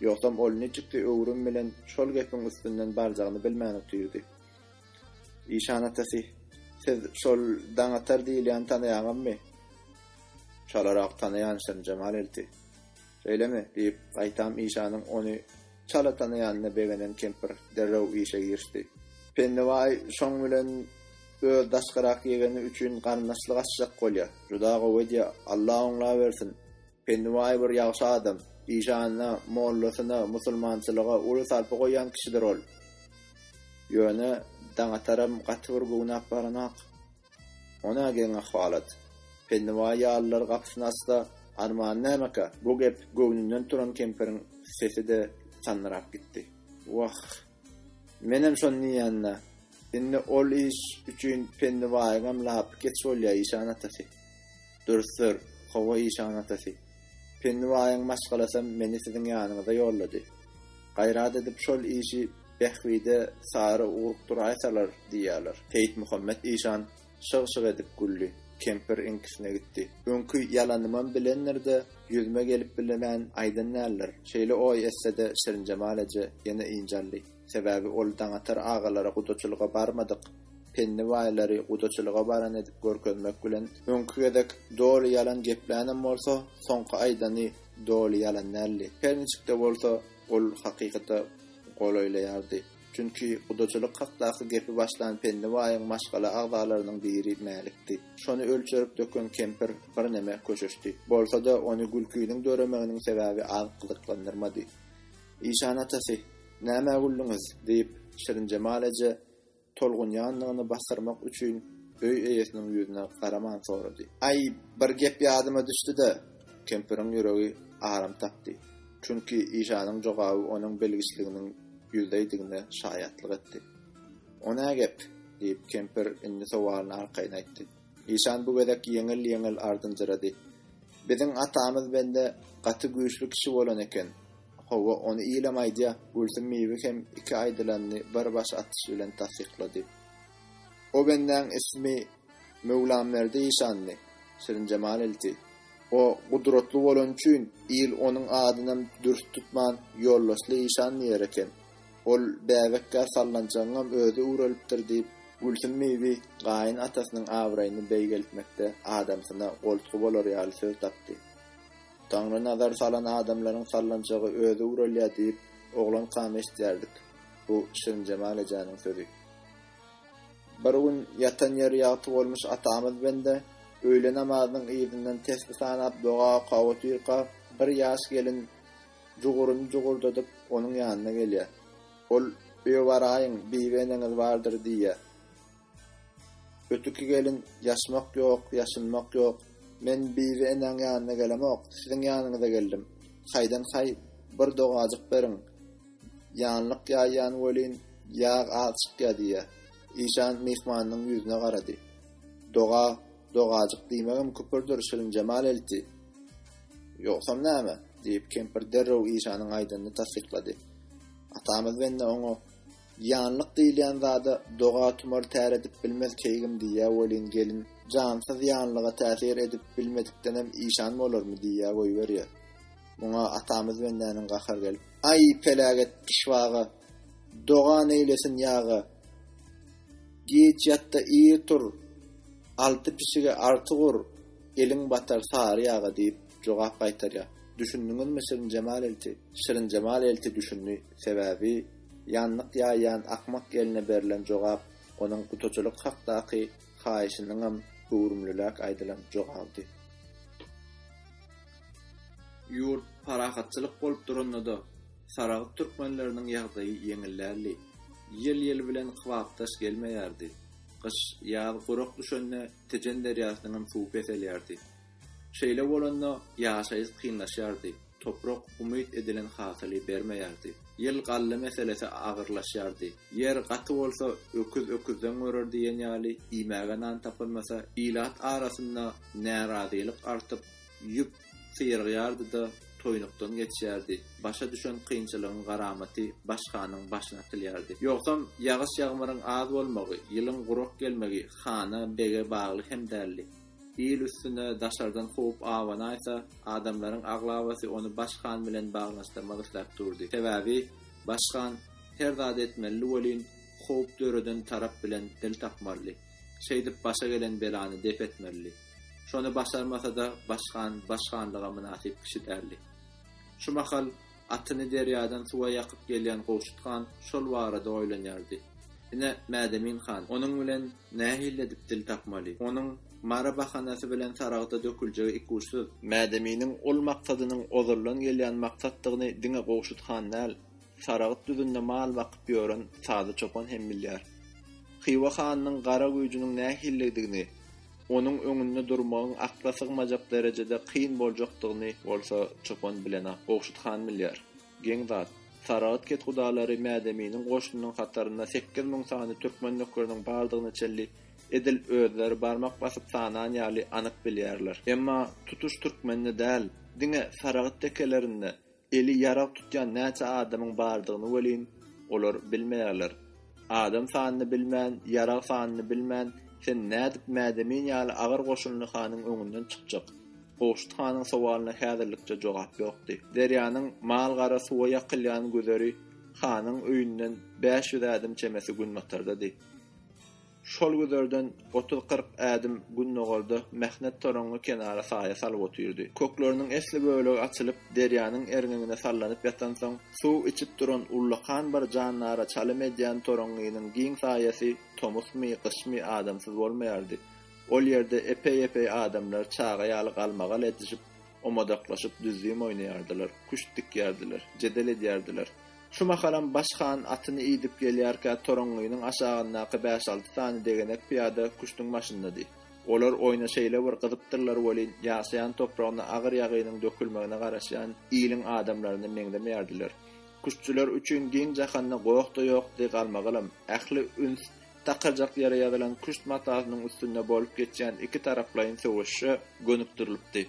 Ýogsam ol niçiksi öwrüm bilen şol gepiň üstünden barjagyny bilmän otyrdy. Işan atasy, siz şol Daňatar diýilýäni tanaýaňyzmy? Çalarak tanaýan şem Jemal elti. Şeýlemi? diýip, gaýtam işanyň ony çala tanaýanyna begenen kempir derrew işe girişdi. Pennebaý şoň bilen öz daşkyrak ýegeni üçin garyndaşlyk açjak bolýa. Juda gowy edýä, Alla oňlabersin! Pennibaý bir ýagşy adam. Işanyna, mollasyna, musulmançylyga uly sarpa goýýan kişidir ol. Ýöne Daňataram gaty bir göwnäp baranok. Ony-a geň ahwalat. Pennibaý ýalylar gapysyny açsa, armany nämekä? Bu gep göwnünden turan kempiriň sesi-de sandyrap gitdi. Wah, menem şony diýýän-dä. Indi ol iş üçin Pennibaýyňam lapy geç bolýa, işan atasy. Dürsür, Hawa işan atasy. Penni baýyň maşgalasam meni siziň ýanyňyza ýollady. Gaýrat edip şol işi Bähbide sary ugrup duraýsalar diýýäler. Seýitmuhammet işan şyg-şyg edip güldi. Kempir iňkisine gitdi. Öňki ýalanymam bilendir-de, ýüzüme gelip bilemän aýdan däldir. Şeýle oý etse-de Şirinjemal eje ýene ynjaldy. Sebäbi ol Daňatar agalary gudaçylyga barmadyk Penni baýlary gudaçylyga baran edip görkezmek bilen, öňki gezek doly ýalan geplänem bolsa, soňky aýdany doly ýalan däldi. Her niçik-de bolsa, ol hakykata golaýlaýardy. Çünki gudaçylyk hakdaky gepi başlan Penni baýyň maşgala agzalarynyň biri Mälikdi. Şony ölçerip döken kempir birneme köşeşdi. Bolsa-da, ony gülkiniň döremeginiň sebäbi az gyzyklandyrmady. Işan atasy, Nämä güldüňiz? diýip, Şirinjemal eje tolgunýandygyny basdyrmak üçin öý eýesiniň ýüzüne garaman sorady. Aý, bir gep ýadyma düşdi-de, kempiriň ýüregi aram tapdy. Çünki Işanyň jogaby onuň bilgiçliginiň ýüzleýdigine şaýatlyk etdi. O nä gep? diýip, kempir indi sowalyny arkaýyn aýtdy. Işan bu gezek ýeňil-ýeňil ardynjyrady. Biziň atamyz bende gaty güýçli kişi bolan eken. Hawa, ony ilem aýdýa, Gülsüm bibi hem iki aýdylanyny bir baş atyş bilen tassyklady. O bendäň ismi Möwlamberdi işandy, Şirinjemal ilçi. O gudratly bolany üçin il onuň adynam dürs tutman Ýoldaşly işan diýer eken. Ol bäbekkä sallanjagyňam özi ugralipdir diýip, Gülsüm bibi gaýyn atasynyň abraýyny beýgeltmekde adamsyna goltgy bolar ýaly söz tapdy. Taňry nazar salan adamlaryň sallanjagy özi ugralýa diýip oglankam eşdýärdik, bu Şirinjemal ejäniň sözi. Bir gün ýatan ýeri ýagty bolmuş atamyz bende öýle namazynyň yzyndan tesbi sanap doga okaw otyrka bir ýaş gelin Juguryny jugurdadyp, onuň ýanyna gelýär. Ol, Öe baraýyň, bibi eneňiz bardyr diýýär. Ötüki gelin, Ýaşmak ýok, ýaşynmak ýok. Men bibi enäň ýanyna gelemok, siziň ýanyňyza geldim. Haýdan-haý, bir dogajyk beriň. Ýanlyk ýaýýan welin, ýag az çykýa diýýär. Işan myhmanynyň ýüzüne garady. Doga, dogajyk diýmegem küpürdir, Şirinjemal elti! Ýogsam näme? diýip, kempir derrew Işanyň aýdanyny tassyklady. Atamyz bende oňa, Ýanlyk diýilýän zada doga-tumar täredip bilmez keýgim diýýä welin, gelin, jansyz ýanlyga täsir edip bilmedikdenem işan bolarmy diýýä goýberýä. Muňa atamyz bendäniň gahary gelip, Aý, peläget pyşbaga! Doga neýlesin ýaga! Giç ýat-da ir tur! Alty pişige arty gur! Eliň batar sary ýaga diýip, jogap gaýtarýar. Düşündiňizmi Şirinjemal elti? Şirinjemal elti düşündi. Sebäbi, ýanlyk ýaýýan akmak gelne berlen jogap onuň gutaçylyk hakdaky haýyşynyňam göwrümliräk aýdylan jogabydy. Ýurt parahatçylyk bolup duranda-da, Saragt türkmenleriniň ýagdaýy ýeňil däldi. Ýyl ýyl bilen kybapdaş gelmeýärdi. Gyş, ýaz gurak düşende, Tejen derýasynyňam suwy peselýärdi. Şeýle bolanda ýaşaýyş kynlaşýardy, toprak umyt edilen hasyly bermeýärdi. Ýyl galla meselesi agyrlaşýardy. Ýer gaty bolsa öküz öküzden görer diýen ýaly iýmäge nan tapylmasa, ilat arasynda närazylyk artyp, ýüp, syrygýardy-da, toýnukdan geçýärdi. Başa düşen kynçylygyň garamaty baş hanyň başyna atylýardy. Ýogsam, ýagyş-ýagmyryň az bolmagy, ýylyň gurak gelmegi hana, bege bagly hem däldi. Il üstüne daşardan howp abanaýsa, adamlaryň aglabasy ony baş han bilen baglanyşdyrmak isläp durdy. Sebäbi baş han her zat etmeli welin, howp döreden tarap bilen dil tapmalydy. Şeýdip başa gelen belany dep etmelidi. Şony başarmasa-da başhan başhanlyga mynasyp kişi däldi. Şu mahal atyny derýadan suwa ýakyp gelýän Gowşut han şol barada oýlanýardy. Ine, Mädemin han onuň bilen nähili edip dil tapmaly? Onuň Mary bahanasy bilen Saragta döküljegi ikuçsyz. Mädeminiň ol maksadynyň ozaldan gelýän maksatdygyny diňe Gowşut han däl, Saragyt düzünde mal bakyp ýören Sazy çopan hem bilýär. Hywa hanynyň gara güýjüniň nähilidigini, onuň öňünde durmagyň akla sygmajak derejede kyn boljakdygyny bolsa çopan bilenok, Gowşut han bilýär. Geň zat. Saragyt kethudalary Mädeminiň goşunynyň hatarynda sekiz müň sany türkmen nökeriniň bardygyny çenli edil özleri barmak basyp sanan ýaly anyk bilýärler. Emma tutuş türkmende däl, diňe Saragyt tekelerinde Eli ýarag tutýan näçe adamyň bardygyny welin, olar bilmeýärler. Adam sanyny bilmän, ýarag sanyny bilmän, sen nädip Mädemin ýaly agyr goşunly hanyň öňünden çykjak? Gowşut hanyň sowalyna häzirlikçe jogap ýokdy. Derýanyň mal-gara suwa ýakylýan güzeri hanyň öýünden bäş ýüz ädim çemesi günbatardady. Şol güzerden otuz-kyrk ädim gündogarda mähnet toraňňy kenara saýa salyp otyrdy. Kökleriniň esli bölegi açylyp, derýanyň erňegine sallanyp ýatansoň, suw içip duran ullakan bir jandara çalym edýän toraňňynyň giň saýasy tomusmy, gyşmy adamsyz bolmaýardy. Ol ýerde epeý-epeý adamlar çaga ýaly galmagal edişip, omadaklaşyp düzzüm oýnaýardylar, küşt dikýärdiler, jedel edýärdiler. Şu mahalam Baş han atyny idip gelýärkä toraňňynyň aşagyndaky bäş-alty sany degenek pyýada küştüň başyndady. Olar oýna şeýle bir gyzypdyrlar welin, ýaşaýan topragyna agyr ýagynyň dökülmegine garaşýan iliň adamlaryna meňzemeýärdiler. Küştçüler üçin giň jahanda goh-da ýokdy, galmagalam. Ähli üns takarjak ýere ýazylan küşt matasynyň üstünde bolup geçýän iki taraplaýyn söweşe gönükdirilipdi.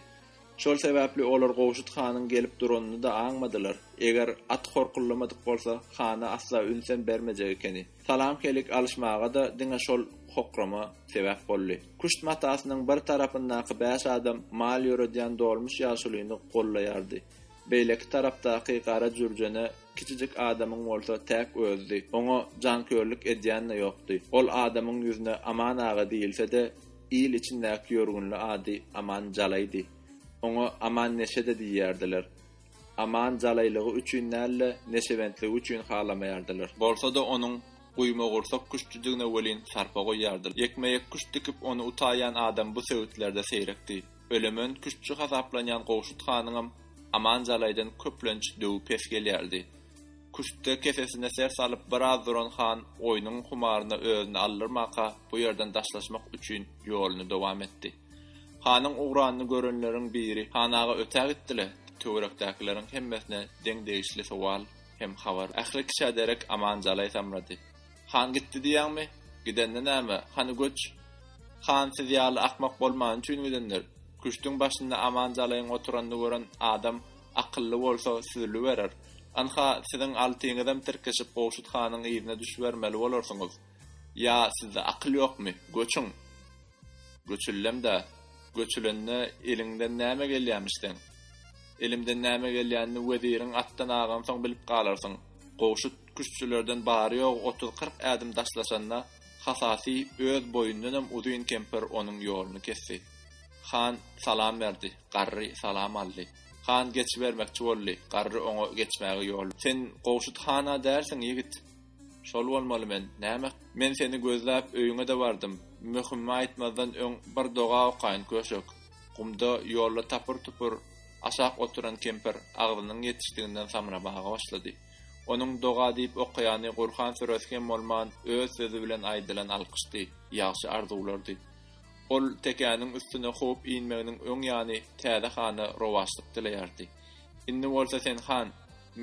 Şol sebäpli olar Gowşut hanyň gelip duranyny-da aňmadylar. Eger at horkullamadyk bolsa, hana asla ünsem bermejek ekeni. Salam-keýlik alyşmaga-da diňe şol hokrama sebäp boldy. Küşt matasynyň bir tarapyndaky bäş adam mal ýöredýän dolmuş ýaşulyny gollaýardy. Beýleki tarapdaky gara jürjene kiçijik adamyň bolsa täk özüdi. Oňa jankörlük edýän-de ýokdy. Ol adamyň ýüzüne Aman aga diýilse-de, Il içindäki ýörgünli ady Aman Jalaýdy. Oňa Aman neşe-de diýýärdiler. Aman jalaýlygy üçin däl-de, neşebentligi üçin halamaýardylar. Bolsa-da onuň guýmagursak küştüdigine welin sarpa goýýardylar. Ýekme-ýek küşt dikip ony utaýan adam bu sebitlerde seýrekdi. Ölemen küştçi hasaplanýan Gowşut hanyňam Aman jalaýdan köplenç döwi pes gelýärdi. Küştde kesesine ser salyp biraz duran han oýnuň humaryna özüni aldyrmaka bu ýerden daşlaşmak üçin ýoluny dowam etdi. Hanyň ugranyny görenleriň biri Han aga ötä gitdi-le? Töwerekdäkileriň hemmesine deň degişli sowal hem habar ähli kiçä derek aman jalaý samrady. Han gitdi diýýäňmi? Gidende näme, hany göç? Han siz ýaly akmak bolmany üçin gidendir. Küştüň başynda aman jalaýyň oturanyny gören adam Akylly bolsa süzüliberer. Ynha, siziň altyňyzam tirkeşip Gowşut hanyň yzyna düşübermeli bolarsyňyz. Ýa sizde akyl ýokmy? Göçüň! Göçüldem-dä. Göçülende eliňden näme gelýämiş seň? Elimden näme gelýänini weziriň atdan agansoň bilip galarsyň. Gowşut küştçülerden bary-ýogy otuz-kyrk ädim daşlaşanda, Hasasy öz boýundanam uzyn kempir onuň ýoluny kesdi. Han salam berdi. Garry salam aldy. Han geçibermekçi boldy. Garry oňa geçmäge ýol. Sen Gowşut han-a dälsiň, ýigit? Şol bolmaly men. Näme? Men seni gözläp öýüňe-de bardym. Möhümi aýtmazdan öň bir doga okaýyn, köşek. Gumda ýolda tapyr-tupur aşak oturan kempir agzynyň ýetişdiginden samramaga başlady. Onuň doga diýip okaýany Gurhan süresi hem bolman öz sözi bilen aýdylan alkyşdy, ýagşy arzuwlardy. Ol tekäniň üstüne kowup inmeginiň öň ýany täze hana rowaçlyk dileýärdi. Indi bolsa sen han,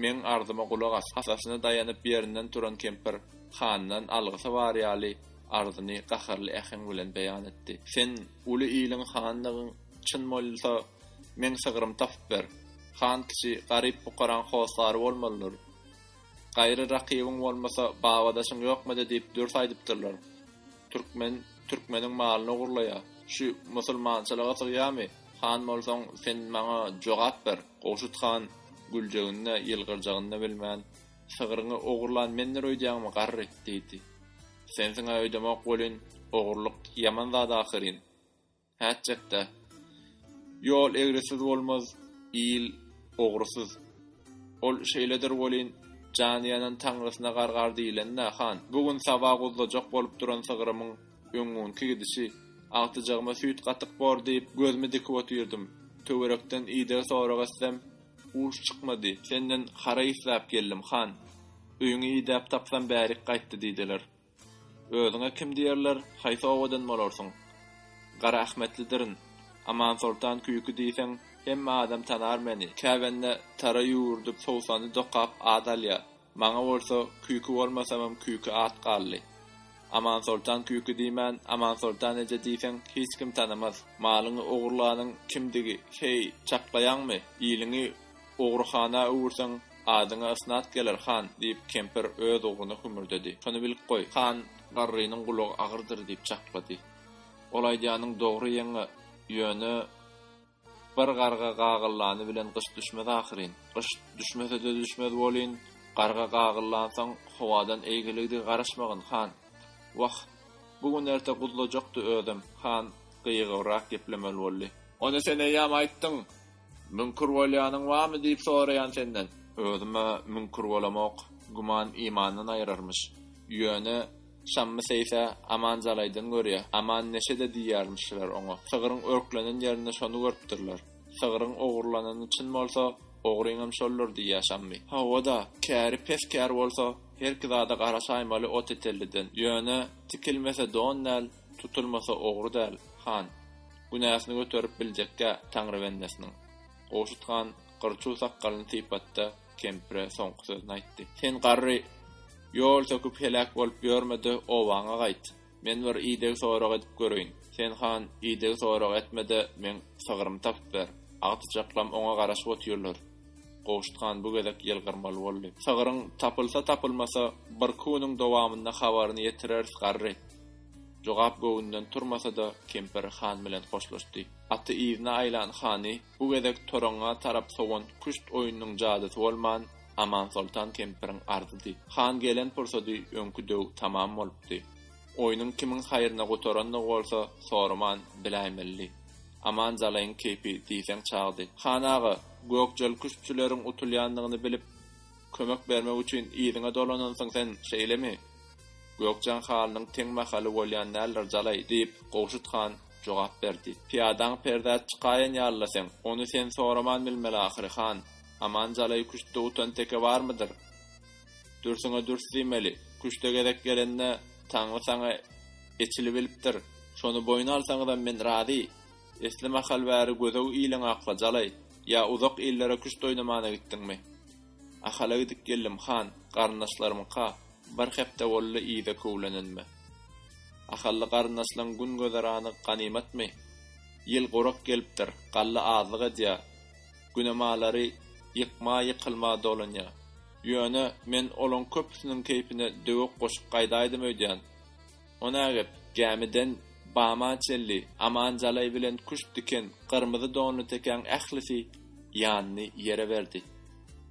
meň arzyma gulak as, hasasyna daýanyp ýerinden turan kempir handan algysy bar ýaly arzyny gaharly äheň bilen beýan etdi. Sen uly iliň hanydygyň çyn bolsa, meň sygrymy tapyp ber. Han kişi garyp pukaraň hossary bolmalydyr. Gaýry rakybyň bolmasa, babadaşyň ýokmydy diýip dürs aýdypdyrlar. Türkmen türkmeniň malyny ogurlaýar. Şu musulmançylyga sygýamy? Han bolsaň sen maňa jogap ber. Gowşut han güljegini-de, ýylgyrjagyn-da bilmän, Sygryňy ogurlan mendir öýdýäňmi, garry? diýdi. Sensiň-ä öýdemok welin, ogurlyk ýaman zat ahyryn. Häçjakda. Ýol egrisiz bolmaz, il ogrusyz. Ol şeýledir welin, jany ýanan taňrysyna gargar diýilende, han, bu gün saba guzlajak bolup duran sygrymyň öňňunky gidişi, agtyjagyma süýt gatyk bor diýip, gözümi dikip otyrdym. Töwerekden ideg sorag etsem, uş çykmady. Senden hara islap geldim, han. Öýüňi idäp tapsam bärik gaýtdy diýdiler. Özüňe kim diýerler, haýsy obadan bolarsyň? Garaahmetlidirin. Amansoltan küýki diýseň, hemme adam tanar meni. Käbändä tara ýüwürdik, sowsany dokap at alýar. Maňa bolsa, küýki bolmasamam küýki at galdy. Amansoltan küýki diýmän, Amansoltan eje diýseň, hiç kim tanamaz. Malyňy ogurlanyň kimdigi, heý, çaklaýaňmy? Iliňi ogryhana öwürseň, Adyňa ysnat geler, han, diýip, kempir öz ugruna hümürdedi. Şony bilip goý, han, garrynyň gulagy agyrdyr, diýip çaklady. Ol aýdýanyň dogry ýeňňe, ýöne bir garga gagyllany bilen gyş düşmez ahyryn. Gyş düşmese-de düşmez welin, garga gagyllansoň, howadan eýgiligdigi garaşmagyn, han. Wah, bu gün-erte guzlajakdy özem, han gyýygybrak geplemeli boldy. Ony sen eýýäm aýtdyň, Müňkür bolýanyň barmy diýip soraýan senden. Özüm-ä müňkür bolamok. Güman imandan aýyrarmyş. Ýöne, Şammy seýsä, Aman jalaýdan görýä. Aman neşede diýýärmişler oňa. Sygryň örklenen ýerinde şony görüpdirler. Sygryň ogurlanany çyn bolsa, ogryňam şoldur diýýä Şammy. Hawa-da, käri pes kär bolsa, herki zada garaşaýmaly Otetelliden. Ýöne, tikilmese don däl, Tutulmasa ogry däl, han. Günäsini göterip biljekgä Taňry bendesiniň. Gowşut han gyr-çuw sakgalyny sypatda kempire soňky sözüni aýtdy. Sen garry, ýol söküp heläk bolup ýörme-de obaňa gaýt. Men bir ideg sorag edip göreýin. Sen han ideg sorag etme-de meň sygrymy tapyp ber. Agtyjaklam oňa garaşyp otyrlar. Gowşut han bu gezek ýylgyrmaly boldy. Sygryň tapylsa-tapylmasa bir kü-niň dowamynda habaryny ýetireris garry. Jogap göwünden turmasa-da, kempir han bilen hoşlaşdy. Aty yzyna aýlan hany bu gezek toraňňa tarap sowan küşt oýnunyň jadysy bolman, Amansoltan kempiriň arzydy. Han gelen pursady öňki döw tamam bolupdy. Oýnuň kimiň haýryna gutarandygy bolsa soraman biläýmelidi. Aman jalaýyň keýpi diýseň çagdy. Han aga, Gökjal küştçüleriň utulýandygyny bilip. Kömek bermek üçin yzyňa dolanansyň sen, şeýlemi? Gökjan halynyň teň mahaly bolýan däldir, jalaý, diýip, Gowşut han jogap berdi. Pyýadaň perzat çykaýan ýaly-la seň. Ony sen soraman bilmeli ahyry, han. Aman jalaý küştde utan teke barmydyr? Dürsüňe dürs diýmeli. Küşte gezek gelende Taňry saňa eçili bilipdir. Şony boýun alsaňyzam men razy. Esli mahal bäri gödew iliň akla jalaý, ýa uzak illere küşt oýnamana gitdiňmi? Ahala gidip geldim, han, garyndaşlarymyňka, bir hepde boldy yza köwlenenime. Ahally garyndaşlaň gün-gözerany ganymatmy? Ýyl gurak gelipdir, galla azlyk edýä, güne malary ýykma-ýykylma dolanýa. Ýöne, men olaň köpüsiniň keýpine döwek goşup gaýdaýdym öýdýän. Onagep, gämiden Bama çenli Aman Jalaý bilen küşt diken gyrmyzy donly tekäň ählisi ýanyny ýere berdi.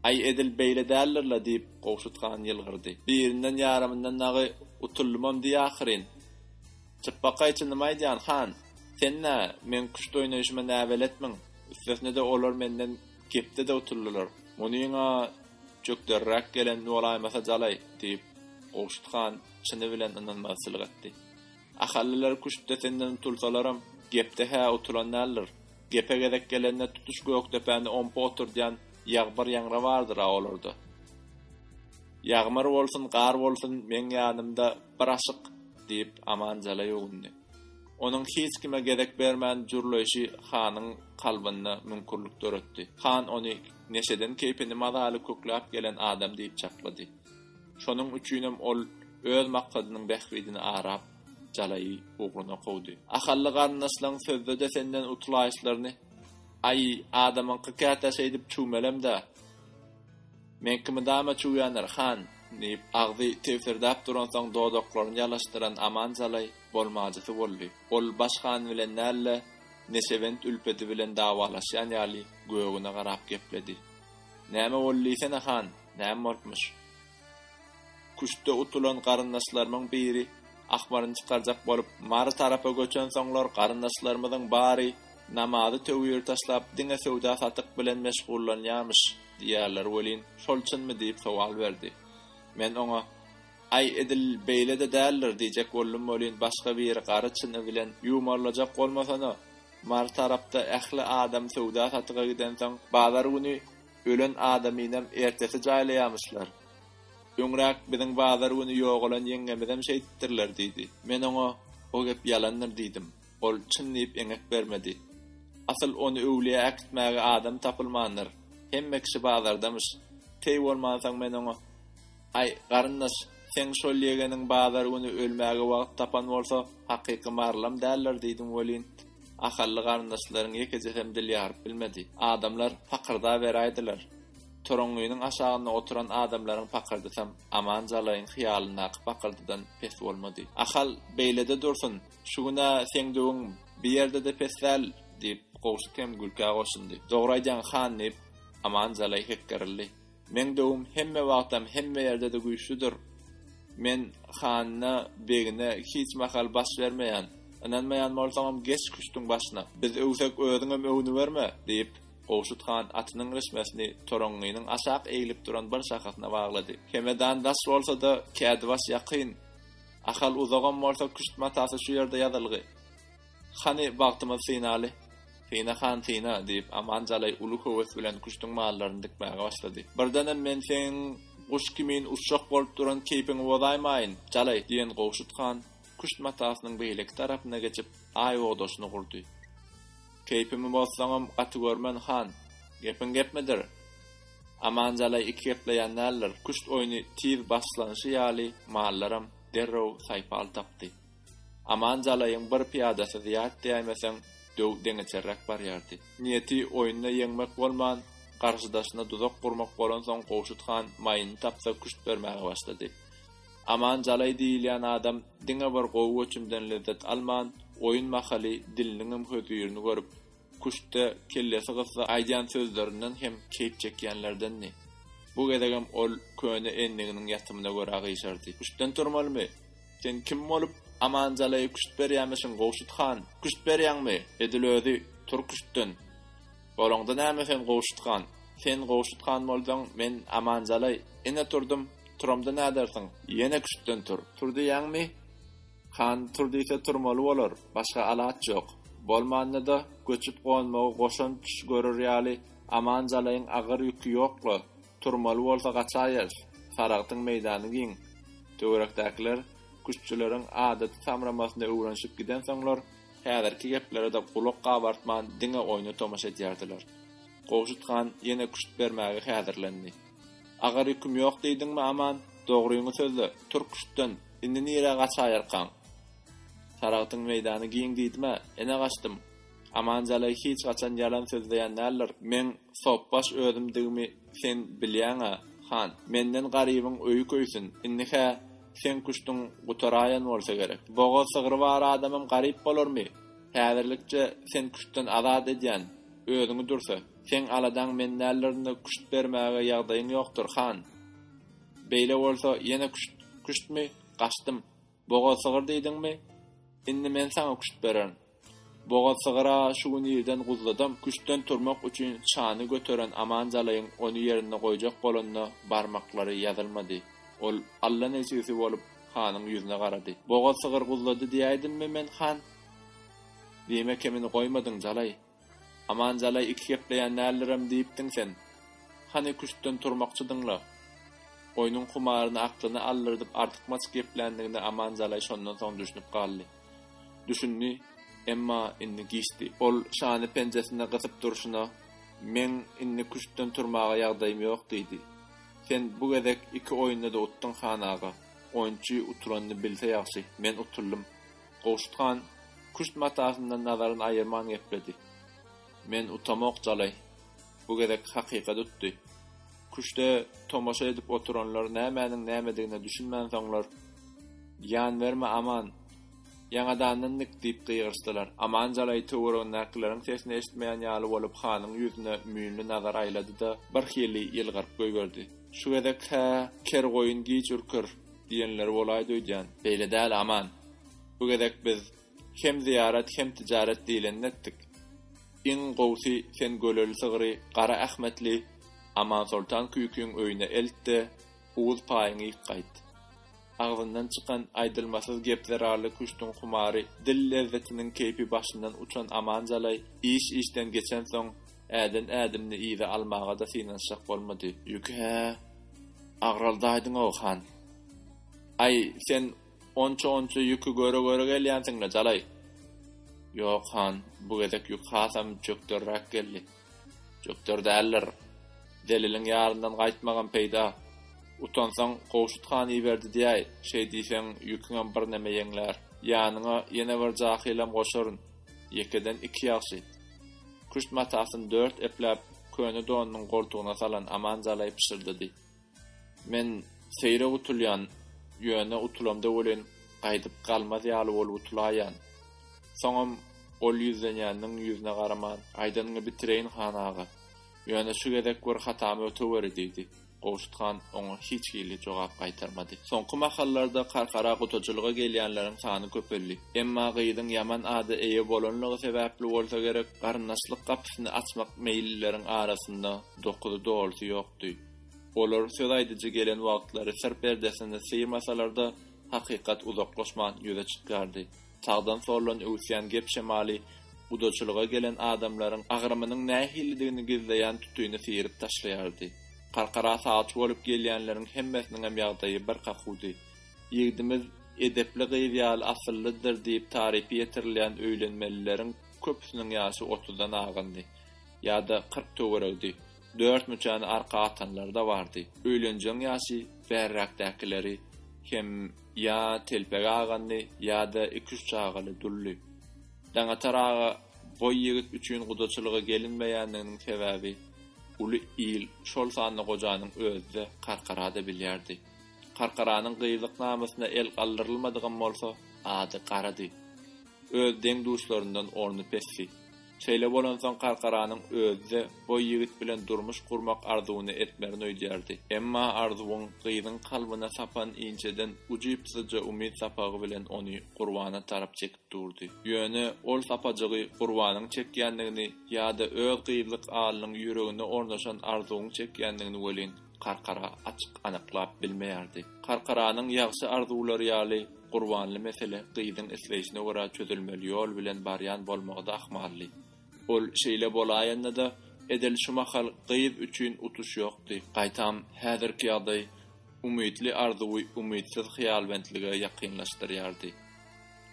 Aý, edil beýle däldir-le, diýip, Gowşut han ýylgyrdy. Birinden ýarymyndan dagy utuldymam diý ahyryn. Çypbakaý çynymy aýdýan, han! Sen-ä meň küşt oýnaýşyma näbeletmiň, üstesine-de olar menden gepde-de utuldylar. Munyň-a çökderiräk gelen bolaýmasa Jalaý, diýip, Gowşut han çyny bilen ynanmagy sylyk etdi. Ahallylar küştde senden utulsalaram, gepde hä utulan däldir. Gepe gezek gelende tutuş Gökdepäni ompa oturdýan Ýagmyr ýaňra bardyr-a olarda. Ýagmyr bolsun, gar bolsun, meň ýanymda bir aşyk, diýip, Amanjala ýugundy. Onuň hiç kime gezek bermän jürleýşi hanyň kalbynda müňkürlik döretdi. Han ony neşeden keýpini mazaly kökläp gelen adam diýip çaklady. Şonuň üçinem ol öz maksadynyň bähbidini arap, jalaýy ugruna kowdy. Ahally garyndaşlaň sözde-de senden utulayşlaryny, Aý, adamyňky käte şeýdip çüwmelem-dä. Meňki mydama çüwýändir, han, diýip, agzy tebsirdäp duransoň dodaklaryny ýalaşdyran Aman jalaý bolmajysy boldy. Ol baş han bilen däl-de, neşebent ülpeti bilen dawalaşýan ýaly, gögüne garap gepledi. Näme boldy diýsene han, näme bolupmyş? Küştde utulan garyndaşlarymyň biri ahmaryny çykarjak bolup, Mary tarapa göçensoňlar, garyndaşlarymyzyň bary namazy töwir taşlap, diňe söwda-satyk bilen meşgullanýarmyş diýýärler welin, şol çynmy diýip sowal berdi. Men oňa, Aý, edil beýle-de däldir diýjek boldum welin, başga biri gary çyny bilen ýumarlajak bolmasana, Mary tarapda ähli adam söwda-satyga gidensoň, bazar güni ölen adamynam ertesi jaýlaýamyşlar. Öňräk biziň bazar güni ýogalan ýeňňemizem şeýdipdirler diýdi. Men oňa, O gep ýalandyr diýdim. Ol çyn diýip eňek bermedi. Asyl ony öwlüýä äkitmäge adam tapylmandyr. Hemme kişi bazardamyş. Teý bolmansoň men oňa, Aý, garyndaş, seň şol ýegeniň bazar güni ölmäge wagt tapan bolsa, hakyky marlam däldir diýdim welin, ahally garyndaşlaryň ýekejesem dil ýaryp bilmedi. Adamlar pakyrdaberäýdiler. Toraňňynyň aşagynda oturan adamlaryň pakyrdysam Aman Jalaýyň hyýalyndaky pakyrdydan pes bolmady. Ahal, beýlede dursun, şu gün-ä seň döwüň bir ýerde-de pes däl, diýip, Gowşut hem gülkä goşundy. Dogry aýdýaň, han, diýip, Aman Jalaý hekgerildi. Meň döwüm hemme wagtam hemme ýerde-de güýçlüdir. Men hanyna, begine hiç mahal baş bermeýän. Ynanmaýan bolsaňam geç küştüň başyna. Biz öwsek özüňem öwnüberme, diýip, Gowşut han atynyň rişmesini toraňňynyň aşak eglip duran bir şahasyna baglady. Hemedan daş bolsa-da, kädibaş ýakyn. Ahal uzagam bolsa küşt matasy şu ýerde ýazylgy. Hany bagtymyz synaly? Syna han, syna, diýip, Aman jalaý uly höwes bilen küştüň mallaryny dikmäge başlady. Birdenem men seň guş kimin uçjak bolup duran keýpiňi bozaýmaýyn, jalaý! diýen Gowşut han küşt matasynyň beýleki tarapyna geçip, aý ogdaşyny gurdy. Keýpimi bozsaňam gaty görmen, han! Gepiň gepmidir? Aman jalaý iki gepleýän däldir. Küşt oýny tiz başlanyşy ýaly, mallaram derrew saýpal tapdy. Aman Jalaýyň bir pyýadasy zyýat däýmeseň, döw deňeçerräk barýardy. Niýeti oýunda ýeňmek bolman, garşydaşyna duzak gurmak bolansoň Gowşut han maýyny tapsa küşt bermäge başlady. Aman Jalaý diýilýän adam diňe bir gowy göçümden lezzet alman, oýun mahaly diliniňem hözirini görüp, Küştde kellesi gyssa aýdýan sözlerinden hem keýp çekýänlerdendi. Bu gezegem ol köne endiginiň ýatymyna görä gyşardy. Küştden turmalymy? Sen kim bolup, Amanjalaýa küşt berýämişiň, Gowşut han? Küşt berýäňmi? Edil özi, Tur küştden! Bolaňda näme sen, Gowşut han? Sen Gowşut han bolsaň, men Amanjalaý. Ine turdum. Turamda nädersiň? Ýene küştden tur. Tur diýýäňmi? Han tur diýse turmaly bolar, başga alaç ýok. Bolmanda-da, göçüp-gonmagy goşant düş görer ýaly Aman Jalaýyň agyr ýüki ýok-la, turmaly bolsa gaçaýers, Saragtyň meýdany giň. Töwerekdäkiler küştçüleriň adaty samramasyna öwrenişip gidensoňlar, häzirki geplere-de gulak gabartman diňe oýna tomaşa edýärdiler. Gowşut han ýene küşt bermäge häzirlendi. Agar ýüküm ýok diýdiňmi Aman, dogryňy sözle, türk-küştden, indi nirä gaçaýarkaň? Saragtyň meýdany giň diýdim-ä, ene gaçdym. Aman jalaý hiç haçan ýalan sözleýän däldir, meň sopbaş özümdigimi sen bilýäň-ä, han, menden garybyň öýi köýsün, indi-hä seň küştüň gutaraýan bolsa gerek. Bogaz sygry bar adamam garyp bolarmy? Häzirlikçe sen küştden azat edýän, özüňi dürse. Seň aladaň men däldirin-de küşt bermäge ýagdaýyň ýokdur, han. Beýle bolsa, ýene küşt, küştmi? Gaçdym. Bogaz sygyr diýdiňmi? Indi men saňa küşt bererin. Bogaz sygyr-a şu gün irden guzladam, küştden turmak üçin çany göteren Aman Jalaýyň ony ýerinde goýjak bolanyna barmaklary ýazylmady. Ol allanejigsi bolup hanyň ýüzüne garady. Bogaz sygyr guzlady diýäýdimmi men, han? Diýme kemini goýmadyň, Jalaý. Amanjalaý iki gepleýän däldirem diýipdiň sen. Hany küştden turmakçydyň-la? Oýnuň humaryny aklyna aldyrdyp artykmaç gepländigine Amanjalaý şondan soň düşünip galdy. Düşündi, emma indi giçdi. Ol şany penjesinde gysyp durşuna, Meň indi küştden turmaga ýagdaýym ýok diýdi. Sen bu gezek iki oýunda-da utduň, han aga. Oýunçy utulanny bilse ýagşy. Men utuldym. Gowşut han küşt matasyndan nazaryny aýyrman gepledi. Men utamok jalaý. Bu gezek hakykat utdy. Küşde tomaşa edip oturanlar nämäniň nämedigine düşünmän soňlar, Ýan berme, Aman! Ýaňadandan nik! diýip gygyryşdylar. Aman jalaý töweregindäkileriň sesini eşitmeýän ýaly bolup hanyň ýüzüne müýnli nazar aýlady-da, birhili ýylgyryp goýberdi. Şu gezek-hä ker goýun giç ürker. Diýenleri bolaýdy öýdýän. Beýle däl Aman. Bu gezek biz hem zyýarat hem tijaret diýlenini etdik. Iň gowusy sen göleli sygry Gara Ahmetli Amansoltan küýkiň öýüne elt-de, owuz paýyňy ýyk gaýt. Agzyndan çykan aýdylmasyz gep zerarly küştüň humary, dil lezzetiniň keýpi başyndan uçan Aman jalaý iş-işden geçensoň, Äden ädimini yza almaga-da synanyşjak bolmady. Ýüki hä agraldaýdyň-ow, han. Aý, sen onça-onça ýüki göre-göre gelýänsiň-le, jalaý. Ýok, han, bu gezek ýük hasam çökderräk geldi. Çökder däldir. Zeliliň ýaryndan gaýtmagam peýda. Utansaň, Gowşut han iberdi diýäý, şeý diýseň, ýüküňem birneme ýeňlär. Ýanyňa ýene bir jahylam goşaryn. Ýekeden iki ýagşy. Küşt matasyny dört epläp, köne donunyň goltugyna salan Aman jalaý pyşyrdady. Men seýrek utulýan, ýöne utulamda welin, gaýdyp galmaz ýaly bolup utulaýýan. Soňam ol ýüzlenýäniniň ýüzüne garaman, Aýdanyňy bitireýin, han aga. Ýöne şu gezek bir hatamy öteweri, diýdi. Gowşut han oňa hiç hili jogap gaýtarmady. Soňky mahallarda Karkara gutajylyga gelýänleriň sany köpeldi. Emma gyzyň ýaman ada eýe bolanlygy sebäpli bolsa gerek, garyndaşlyk gapysyny açmak meýillileriň arasynda dokuzy dolusy ýokdy. Olar söz aýdyjy gelen wagtlary syr perdesini syýrmasalar-da, hakykat uzaklaşman ýüze çykýardy. Sagdan-soldan öwüsýän gep-şemaly gudaçylyga gelen adamlaryň agrymynyň nähilidigini gizleýän tutyny syryp taşlaýardy. Karkara sagçy bolup gelýänleriň hemmesiniňem ýagdaýy bir kakudy. Ýigdimiz edepli gyz ýaly asyllydyr diýip tarypy ýetirilýän öýlenmelileriň köpüsiniň ýaşy otuzdan agyndy. Ýa-da kyrk töweregidi. Dört müçäni arka atanlary-da bardy. Öýlenjegiň ýaşy bärräkdäkileri hem. Ýa telpegi agandy, ýa-da iki-üç çagaly duldy. Daňatar aga boý ýigit üçin gudaçylyga gelinmeýändiginiň sebäbi uly il, şol sanda gojanyň özi-de Karkara-da bilýärdi. Karkaranyň gyzlyk namysyna el galdyrylmadygam bolsa, ady garady. Öz deň-duşlaryndan orny pesdi. Şeýle bolansoň Karkaranyň özi-de boý ýigit bilen durmuş gurmak arzuwyny etmerin öýdýärdi. Emma arzuwyň gyzyň kalbyna sapan inçeden ujypsyzja umyt sapagy bilen ony Gurbana tarap çekip durdy. Ýöne ol sapajygy Gurbanyň çekýändigini ýa-da öz gyzlyk alynyň ýüregine ornaşan arzuwyň çekýändigini welin, Karkara açyk anyklap bilmeýärdi. Karkaranyň ýagşy arzuwlary ýaly, Gurbanly mesele gyzyň isleýşine görä çözülmeli ýol bilen barýan bolmagy-da ahmaldy. Ol şeýle bolaýanda-da, edil şu mahal gyz üçin utuş ýokdy. Gaýtam, häzirki ýagdaý umytly arzuwy umytsyz hyýalbentlige ýakynlaşdyrýardy.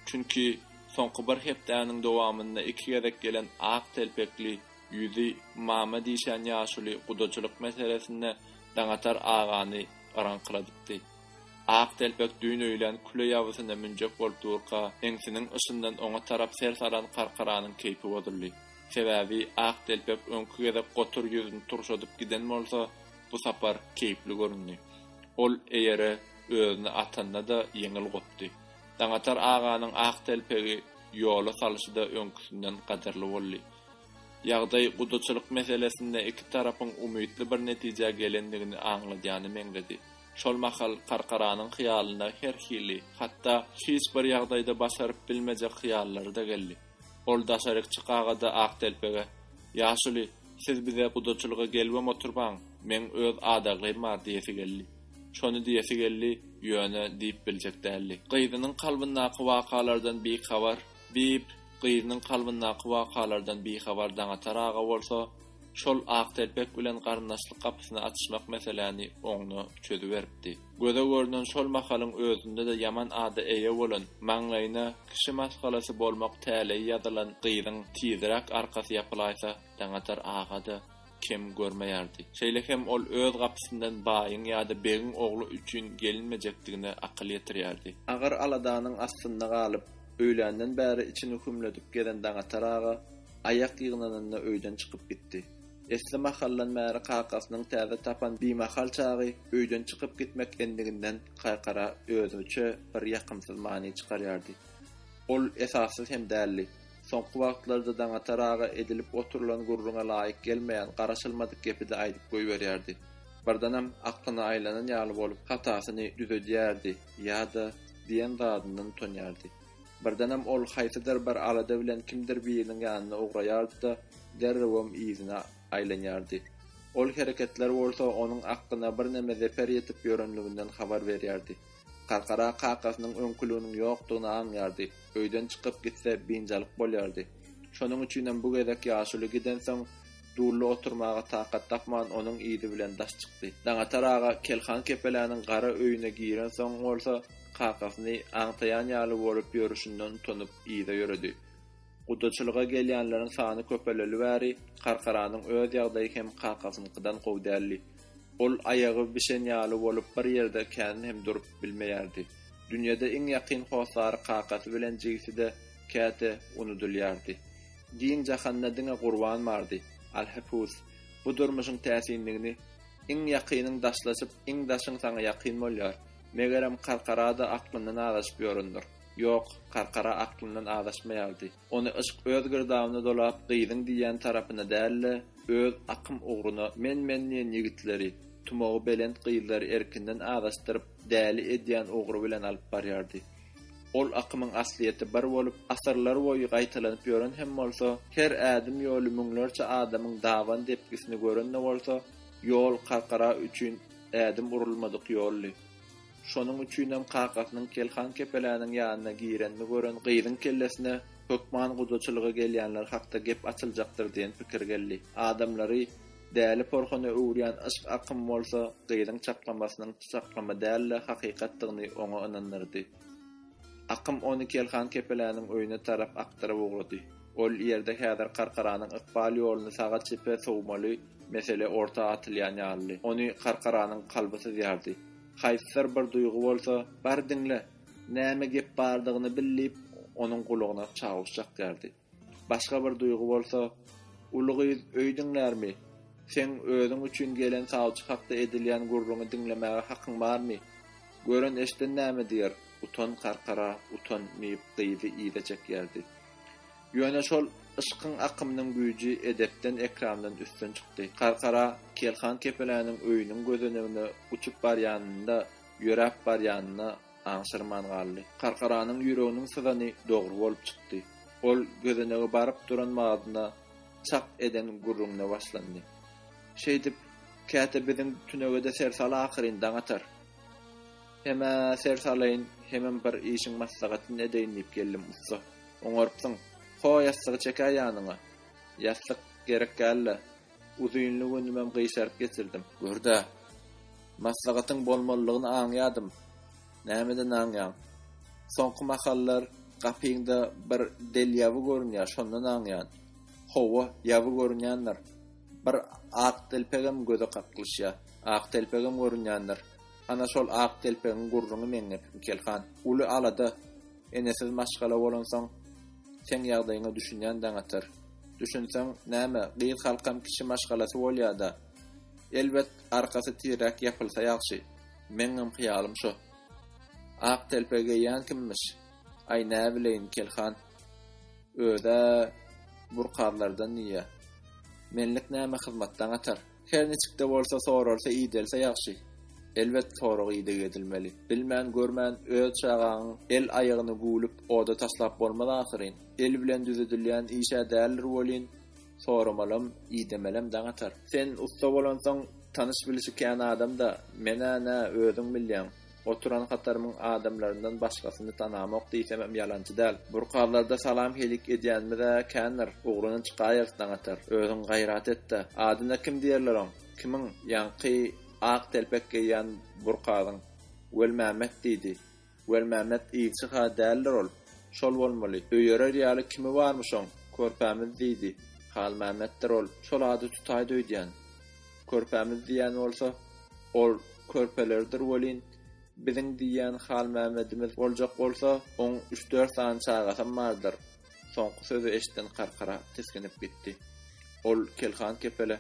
Çünki, soňky bir hepdäniň dowamynda iki gezek gelen ak telpekli Ýüzi Mama diýşen ýaşuly gudaçylyk meselesinde Daňatar agany yraňkyladypdy. Ak telpek düýn öýlän küle ýabysyna münjek bolup durka, eňsiniň yşyndan oňa tarap ser salan Karkaranyň keýpi bozuldy. Sebäbi Ak telpek öňki gezek gotur ýüzüni turşadyp giden bolsa, bu sapar keýpli göründi. Ol eýere özüni atanda-da ýeňil gopdy. Daňatar aganyň Ak telpegi ýola salyşy-da öňküsinden gadyrly boldy. Ýagdaý gudaçylyk meselesinde iki tarapyň umytly bir netijä gelendigini aňladýana meňzedi. Şol mahal Karkaranyň hyýalyna her hili, hatda hiç bir ýagdaýda başaryp bilmejek hyýallary-da geldi. Ol daşaryk çykagada Aktelpege, Ýaşuly, siz bize gudaçylyga gelibem oturbaň, meň öz adaglym bar diýesi geldi. Şony diýesi geldi, ýöne diýip biljek däldi. Gyzynyň kalbyndaky wakalardan bihabar, Diýip, gyzynyň kalbyndaky wakalardan bihabar Daňatar aga bolsa, şol Aktelpek bilen garyndaşlyk gapysyny açyşmak meseläni oňuna çözüberipdi. Göze görnen şol mahalyň özünde-de ýaman ada eýe bolan, maňlaýyna kişi maşgalasy bolmak täleýi ýazylan gyzyň tiziräk arkasy ýapylaýsa, Daňatar aga-da, kem görmeýärdi. Şeýle hem ol öz gapysyndan baýyň ýa-da begiň ogly üçin gelinmejekdigine akyl ýetirýärdi. Agyr aladanyň astynda galyp, öýländen bäri içini hümledip gezen Daňatar aga aýak ýygnanynda öýden çykyp gitdi. Esli mahaldan bäri kakasynyň täze tapan bimahal çagy öýden çykyp gitmek endiginden Kaýkara özüçe bir ýakymsyz many çykarýardy. Ol esassyz hem däldi. Soňky wagtlarda Daňatar aga edilip oturylan gürrüňe laýyk gelmeýän, garaşylmadyk gepi-de aýdyp goýberýärdi. Birdenem aklyna aýlanan ýaly bolup hatasyny düzedýärdi ýa-da diýen zadyndan utanýardy. Birdenem ol haýsydyr bir alada bilen kimdir biriniň ýanyna ugraýardy-da, derrewem yzyna aýlanýardy. Ol hereketler bolsa onuň aklyna birneme zeper ýetip ýörenliginden habar berýärdi. Karkara kakasynyň öňküliginiň ýokdugyny aňýardy, öýden çykyp gitse, biynjalyk bolýardy. Şonuň üçinem bu gezek ýaşuly gidensoň, Dully oturmaga takat tapman, onuň yzy bilen daş çykdy. Daňatar aga Kelhan kepeläniň gara öýüne girensoň bolsa, kakasyny aňtaýan ýaly bolup ýörüşinden utanyp, yza ýöredi. Gudaçylyga gelýänleriň sany köpeleli bäri Karkaranyň öz ýagdaýy hem kakasynyňkydan gowy däldi. Ol aýagy bişen ýaly bolup bir ýerde kän hem durup bilmeýärdi. Dünýede iň ýakyn hossary kakasy bilen jigisi-de käte unudylýardy. Giň jahanda diňe Gurban bardy. Alhepus, bu durmuşyň täsinligini Iň ýakynyň daşlaşyp, iň daşyň saňa ýakyn bolýar. Megerem Karkara-da aklyndan azaşyp ýörendir. Ýok, Karkara aklyndan azaşmaýardy. Ony yşk öz girdabyna dolap, gyzyň diýýän tarapyna däl-de, öz akym ugruna men-men diýen ýigitleri, tumagy belent gyzlary erkinden azaşdyryp, däli edýän ugry bilen alyp barýardy. Ol akymyň aslyýeti bir bolup, asyrlarboýy gaýtalanyp ýören hem bolsa, her ädim ýoly müňlerçe adamyň daban depgisini gören-de bolsa, ýol Karkara üçin ädim urulmadyk ýoldy. Şonuň üçinem kakasynyň Kelhan kepeläniň ýanyna girenini gören gyzyň kellesine hökman gudaçylyga gelýänler hakda gep açyljakdyr diýen pikir geldi. Adamlary däli porhuna öwürýän yşk akymy bolsa gyzyň çaklamasynyň çaklama däl-de hakykatdygyny oňa ynandyrdy. Akym ony Kelhan kepeläniň öýüne tarap akdyryp ugrady. Ol ýerde häzir Karkaranyň ykbal ýoluny saga-çepe sowmaly mesele orta atylýan ýalydy. Ony Karkaranyň kalby syzýardy. Haýsydyr bir duýgy bolsa, Bar diňle! Näme gep bardygyny bil diýip, onuň gulagyna çawuş çakýardy. Başga bir duýgy bolsa, Uly gyz öý diňlärmi? Seň özüň üçin gelen sawçy hakda edilýän gürrüňi diňlemäge hakyň barmy? Gören-eşden näme diýer? Utan, karkara, utan! diýip, gyzy yza çekýärdi. Ýöne şol yşkyň akymynyň güýji edepden ekramdan üstün çykdy. Karkara Kelhan kepeläniň öýüniň gözenegine uçup barýanynda, ýöräp barýanyna aňşyrman galdy. Karkaranyň ýüreginiň syzany dogry bolup çykdy. Ol gözenege baryp duran mazyna çak eden gürrüňine başlandy. Şeýdip, käte biziň tünege-de ser sal ahyryn, daň atar. Hem-ä ser salaýyn, hemem bir işiň maslahatyny edeýin diýip geldim, ussa. Oňarypsyň. Ho, ýassygy çekä ýanyňa. Ýassyk gerek däl-le. Uzynly günümem gyşaryp geçirdim. Gör-dä. Maslahatyň bolmalydygyny aňýadym. Nämeden aňýaň? Soňky mahallar gapyňda bir del ýaby görünýär, şondan aňýan. Hawa, ýaby görünýändir. Bir ak telpegem göze kaklyşýar. Ak telpegem görünýändir. Ana şol ak telpegiň gurruňy meňňe Pipikelhan. Uly alada. Enesiz maşgala bolansoň, seň ýagdaýyňa düşünýän daňatar. Düşünseň, näme, gyz halkam kişi maşgalasy bolýa-da. Elbet, arkasy tiräk ýapylsa ýagşy. Meňňem hyýalym şo. Ak telpek geýýän kimmiş? Aý, näbileýin, Kelhan. Öz-ä, burkazlardan diýýä. Menlik näme hyzmat daňatar. Her niçik-de bolsa soralsa idelse ýagşy. Elbet sorag ideg edilmeli. Bilmän, görmän öz çagaňyň el aýagyny güwlüp oda taşlap bolmaz ahyryn. El bilen düzedilýän iş-ä däldir welin, soramalam, idemelem daň atar. Sen ussa bolansoň tanyş-bilişi kän adam-da, men-ä nä, özüň bilýäň. Oturan hatarymyň adamlaryndan başgasyny tanamok diýsemem ýalançy däl. Burkazlarda salam-heýlik edýänimiz-ä kändir, ugruna çykaýerys daňatar. Özüň gaýrat et-de, adyna kim diýerler oň? Kimiň? Ýaňky ak telpek geýýän burkazyň. Welmämmet diýdi. Welmämmet ilçi-hä däldir ol. Şol bolmaly. Öýerer ýaly kimi barmyş oň? Körpämiz diýdi. Halmämmetdir ol. Şol ady tutaýda öýdýän. Körpämiz diýýän bolsa, ol körpeleridir welin, biziň diýýän Halmämmedimiz boljak bolsa, oň üç-dört sany çagasam bardyr. Soňky sözi eşiden Karkara tisginip gitdi. Ol Kelhan kepele,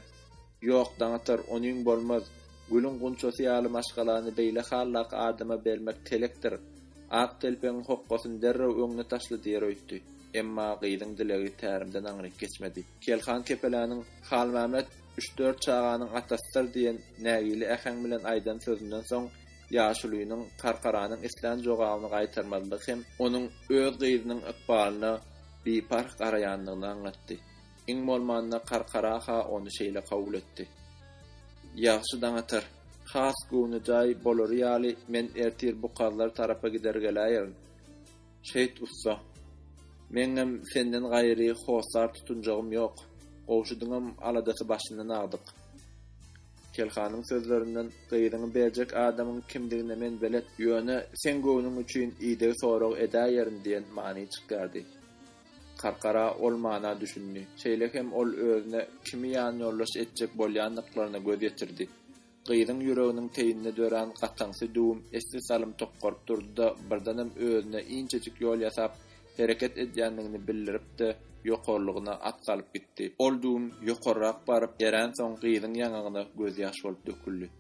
Ýok, daňatar, onyň bolmaz. Gülüň gunçasy ýaly maşgalany beýle hallak adama bermek telekdir. Ak telpegiň hokgasyny derrew öňüne taşla diýer öýtdi. Emma gyzyň dilegi tärimden aňryk geçmedi. Kelhan kepeläniň Halmämmet üç-dört çaganyň atasydyr diýen nägile äheň bilen aýdan sözünden soň ýaşulynyň Karkaranyň islän jogabyny gaýtarmazlygy hem onuň öz gyzynyň ykbalyna biparh garaýandygyny aňlatdy. Iň bolmanda Karkara-ha ony şeýle kabul etdi. Ýagşy daň atar. Has göwnejaý bolary ýaly men ertir bu kazlar tarapa gider geläýerin. Şehit ussa. Meňňem senden gaýry hossar tutunjagym ýok. Gowşudyňam aladasy başyndan agdyk. Kelhanyň sözlerinden, Gyzyňy berjek adamyň kimdigine men belet. Ýöne seň göwnüň üçin ideg sorag edäýerin diýen many çykýardy. Karkara ol mana düşündi. Şeýle hem ol özüne kimi ýanýoldaş etjek bolýandyklaryna göz ýetirdi. Gyzyň ýüreginiň teýinde dörän gataňsy düwüm esli salym tokgaryp durdy-da, birdenem özüne inçejik ýol ýasap, hereket edýändigini bildirip-de, ýokarlygyna at salyp gitdi. Ol düwüm ýokarrak baryp, erensoň gyzyň ýaňagyna gözýaş bolup döküldi.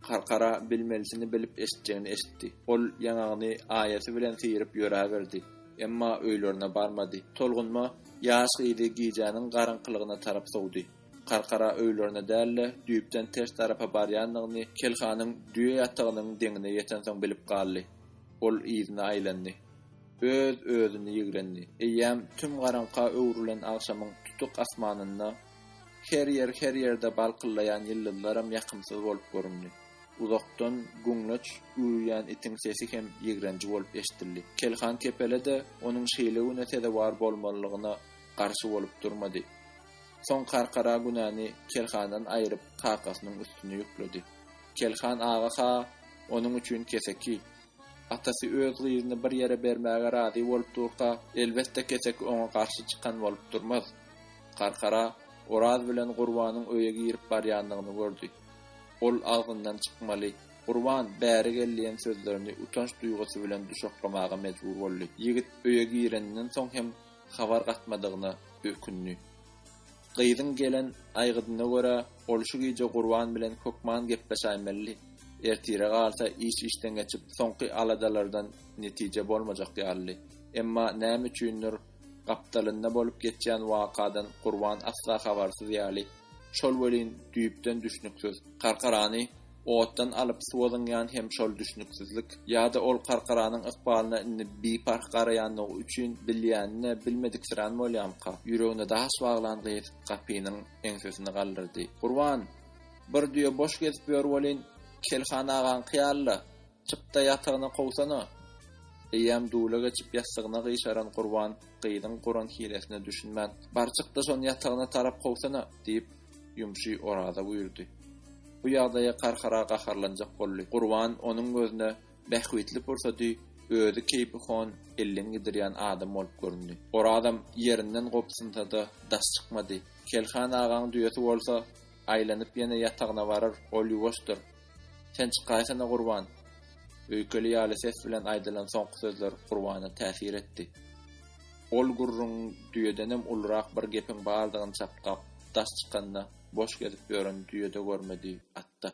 Karkara bilmelisini bilip eşitjegini eşitdi. Ol ýaňagyny aýasy bilen syryp ýöräberdi. Emma öýlerine barmady. Tolgunma ýaş gyzy gijäniň garaňkylygyna tarap sowdy. Karkara öýlerine däl-de, düýpden ters tarapa barýandygyny Kelhanyň düýe ýatagynyň deňine ýetensoň bilip galdy. Ol yzyna aýlandy. Öz-özüni ýigrendi. Eýýäm tüm garaňka öwrülen agşamyň tutuk asmanynda her ýer, her ýerde balkyldaýan ýyldyzlaram ýakymsyz bolup göründi. Uzakdan güňleç üwüýän itiň sesi hem ýigrenji bolup eşdildi. Kelhan kepele-de onuň şeýle güne sezewar bolmalygyna garşy bolup durmady. Soň Karkara Günäni Kelhandan aýryp, kakasynyň üstüne ýükledi. Kelhan aga ha onuň üçin keseki. Atasy öz gyzyny bir ýere bermäge razy bolup durka, elbetde keseki oňa garşy çykan bolup durmaz. Karkara Oraz bilen Gurbanyň öýe girip barýanyny gördi. Ol agzyndan çykmaly, Gurban, bäri gel diýen sözlerini utanç duýgusy bilen duşaklamaga mejbur boldy. Ýigit öýe gireninden soň hem habar gatmadygyna ökündi. Gyzyň gelen aýgydyna görä, ol şu gije Gurban bilen hökman gepleşäýmeli, ertire galsa iş işden geçip, soňky aladalardan netije bolmajak ýalydy. Emma näme üçindir, gapdalynda bolup geçýän wakadan Gurban asla habarsyz ýaly, şol welin düýpden düşnüksiz. Karkarany Otdan alyp suwa zyňýan hem şol düşnüksizlik, ýa-da ol Karkaranyň ykbalyna indi biparh garaýanlygy üçin bilýänine bilmediksirän bolýamyka, ýüregine daş baglan gyz gapynyň eňsesini galdyrdy. Gurban! Bir düýe boş gezip ýör welin, Kelhan agaňky ýaly-la, Çyk-da, ýatagyna kowsana! Eýýäm dula geçip ýassygyna gyşaran Gurban gyzyň guran hilesine düşünmän, Bar çyk-da, şony ýatagyna tarap kowsana! diýip, ýumşy Oraza buýurdy. Bu ýagdaýa Karhara gaharlanjak boldy. Gurban onuň gözüne bähbitli pursady özi keýpi hon elden gidirýän adam bolup göründi. Orazam ýerinden gobsynsa-da, daş çykmady. Kelhan agaň düýesi bolsa, aýlanyp ýene ýatagyna barar, ol ýuwaşdyr, Sen çykaýsana Gurban! Öýkeli ýaly ses bilen aýdylan soňky sözler Gurbana täsir etdi. Ol gürrüň düýedenem ulurak bir gepiň bardygyny çapgap, daş çykanda, boş gezip ýören düýede görmedi, atda.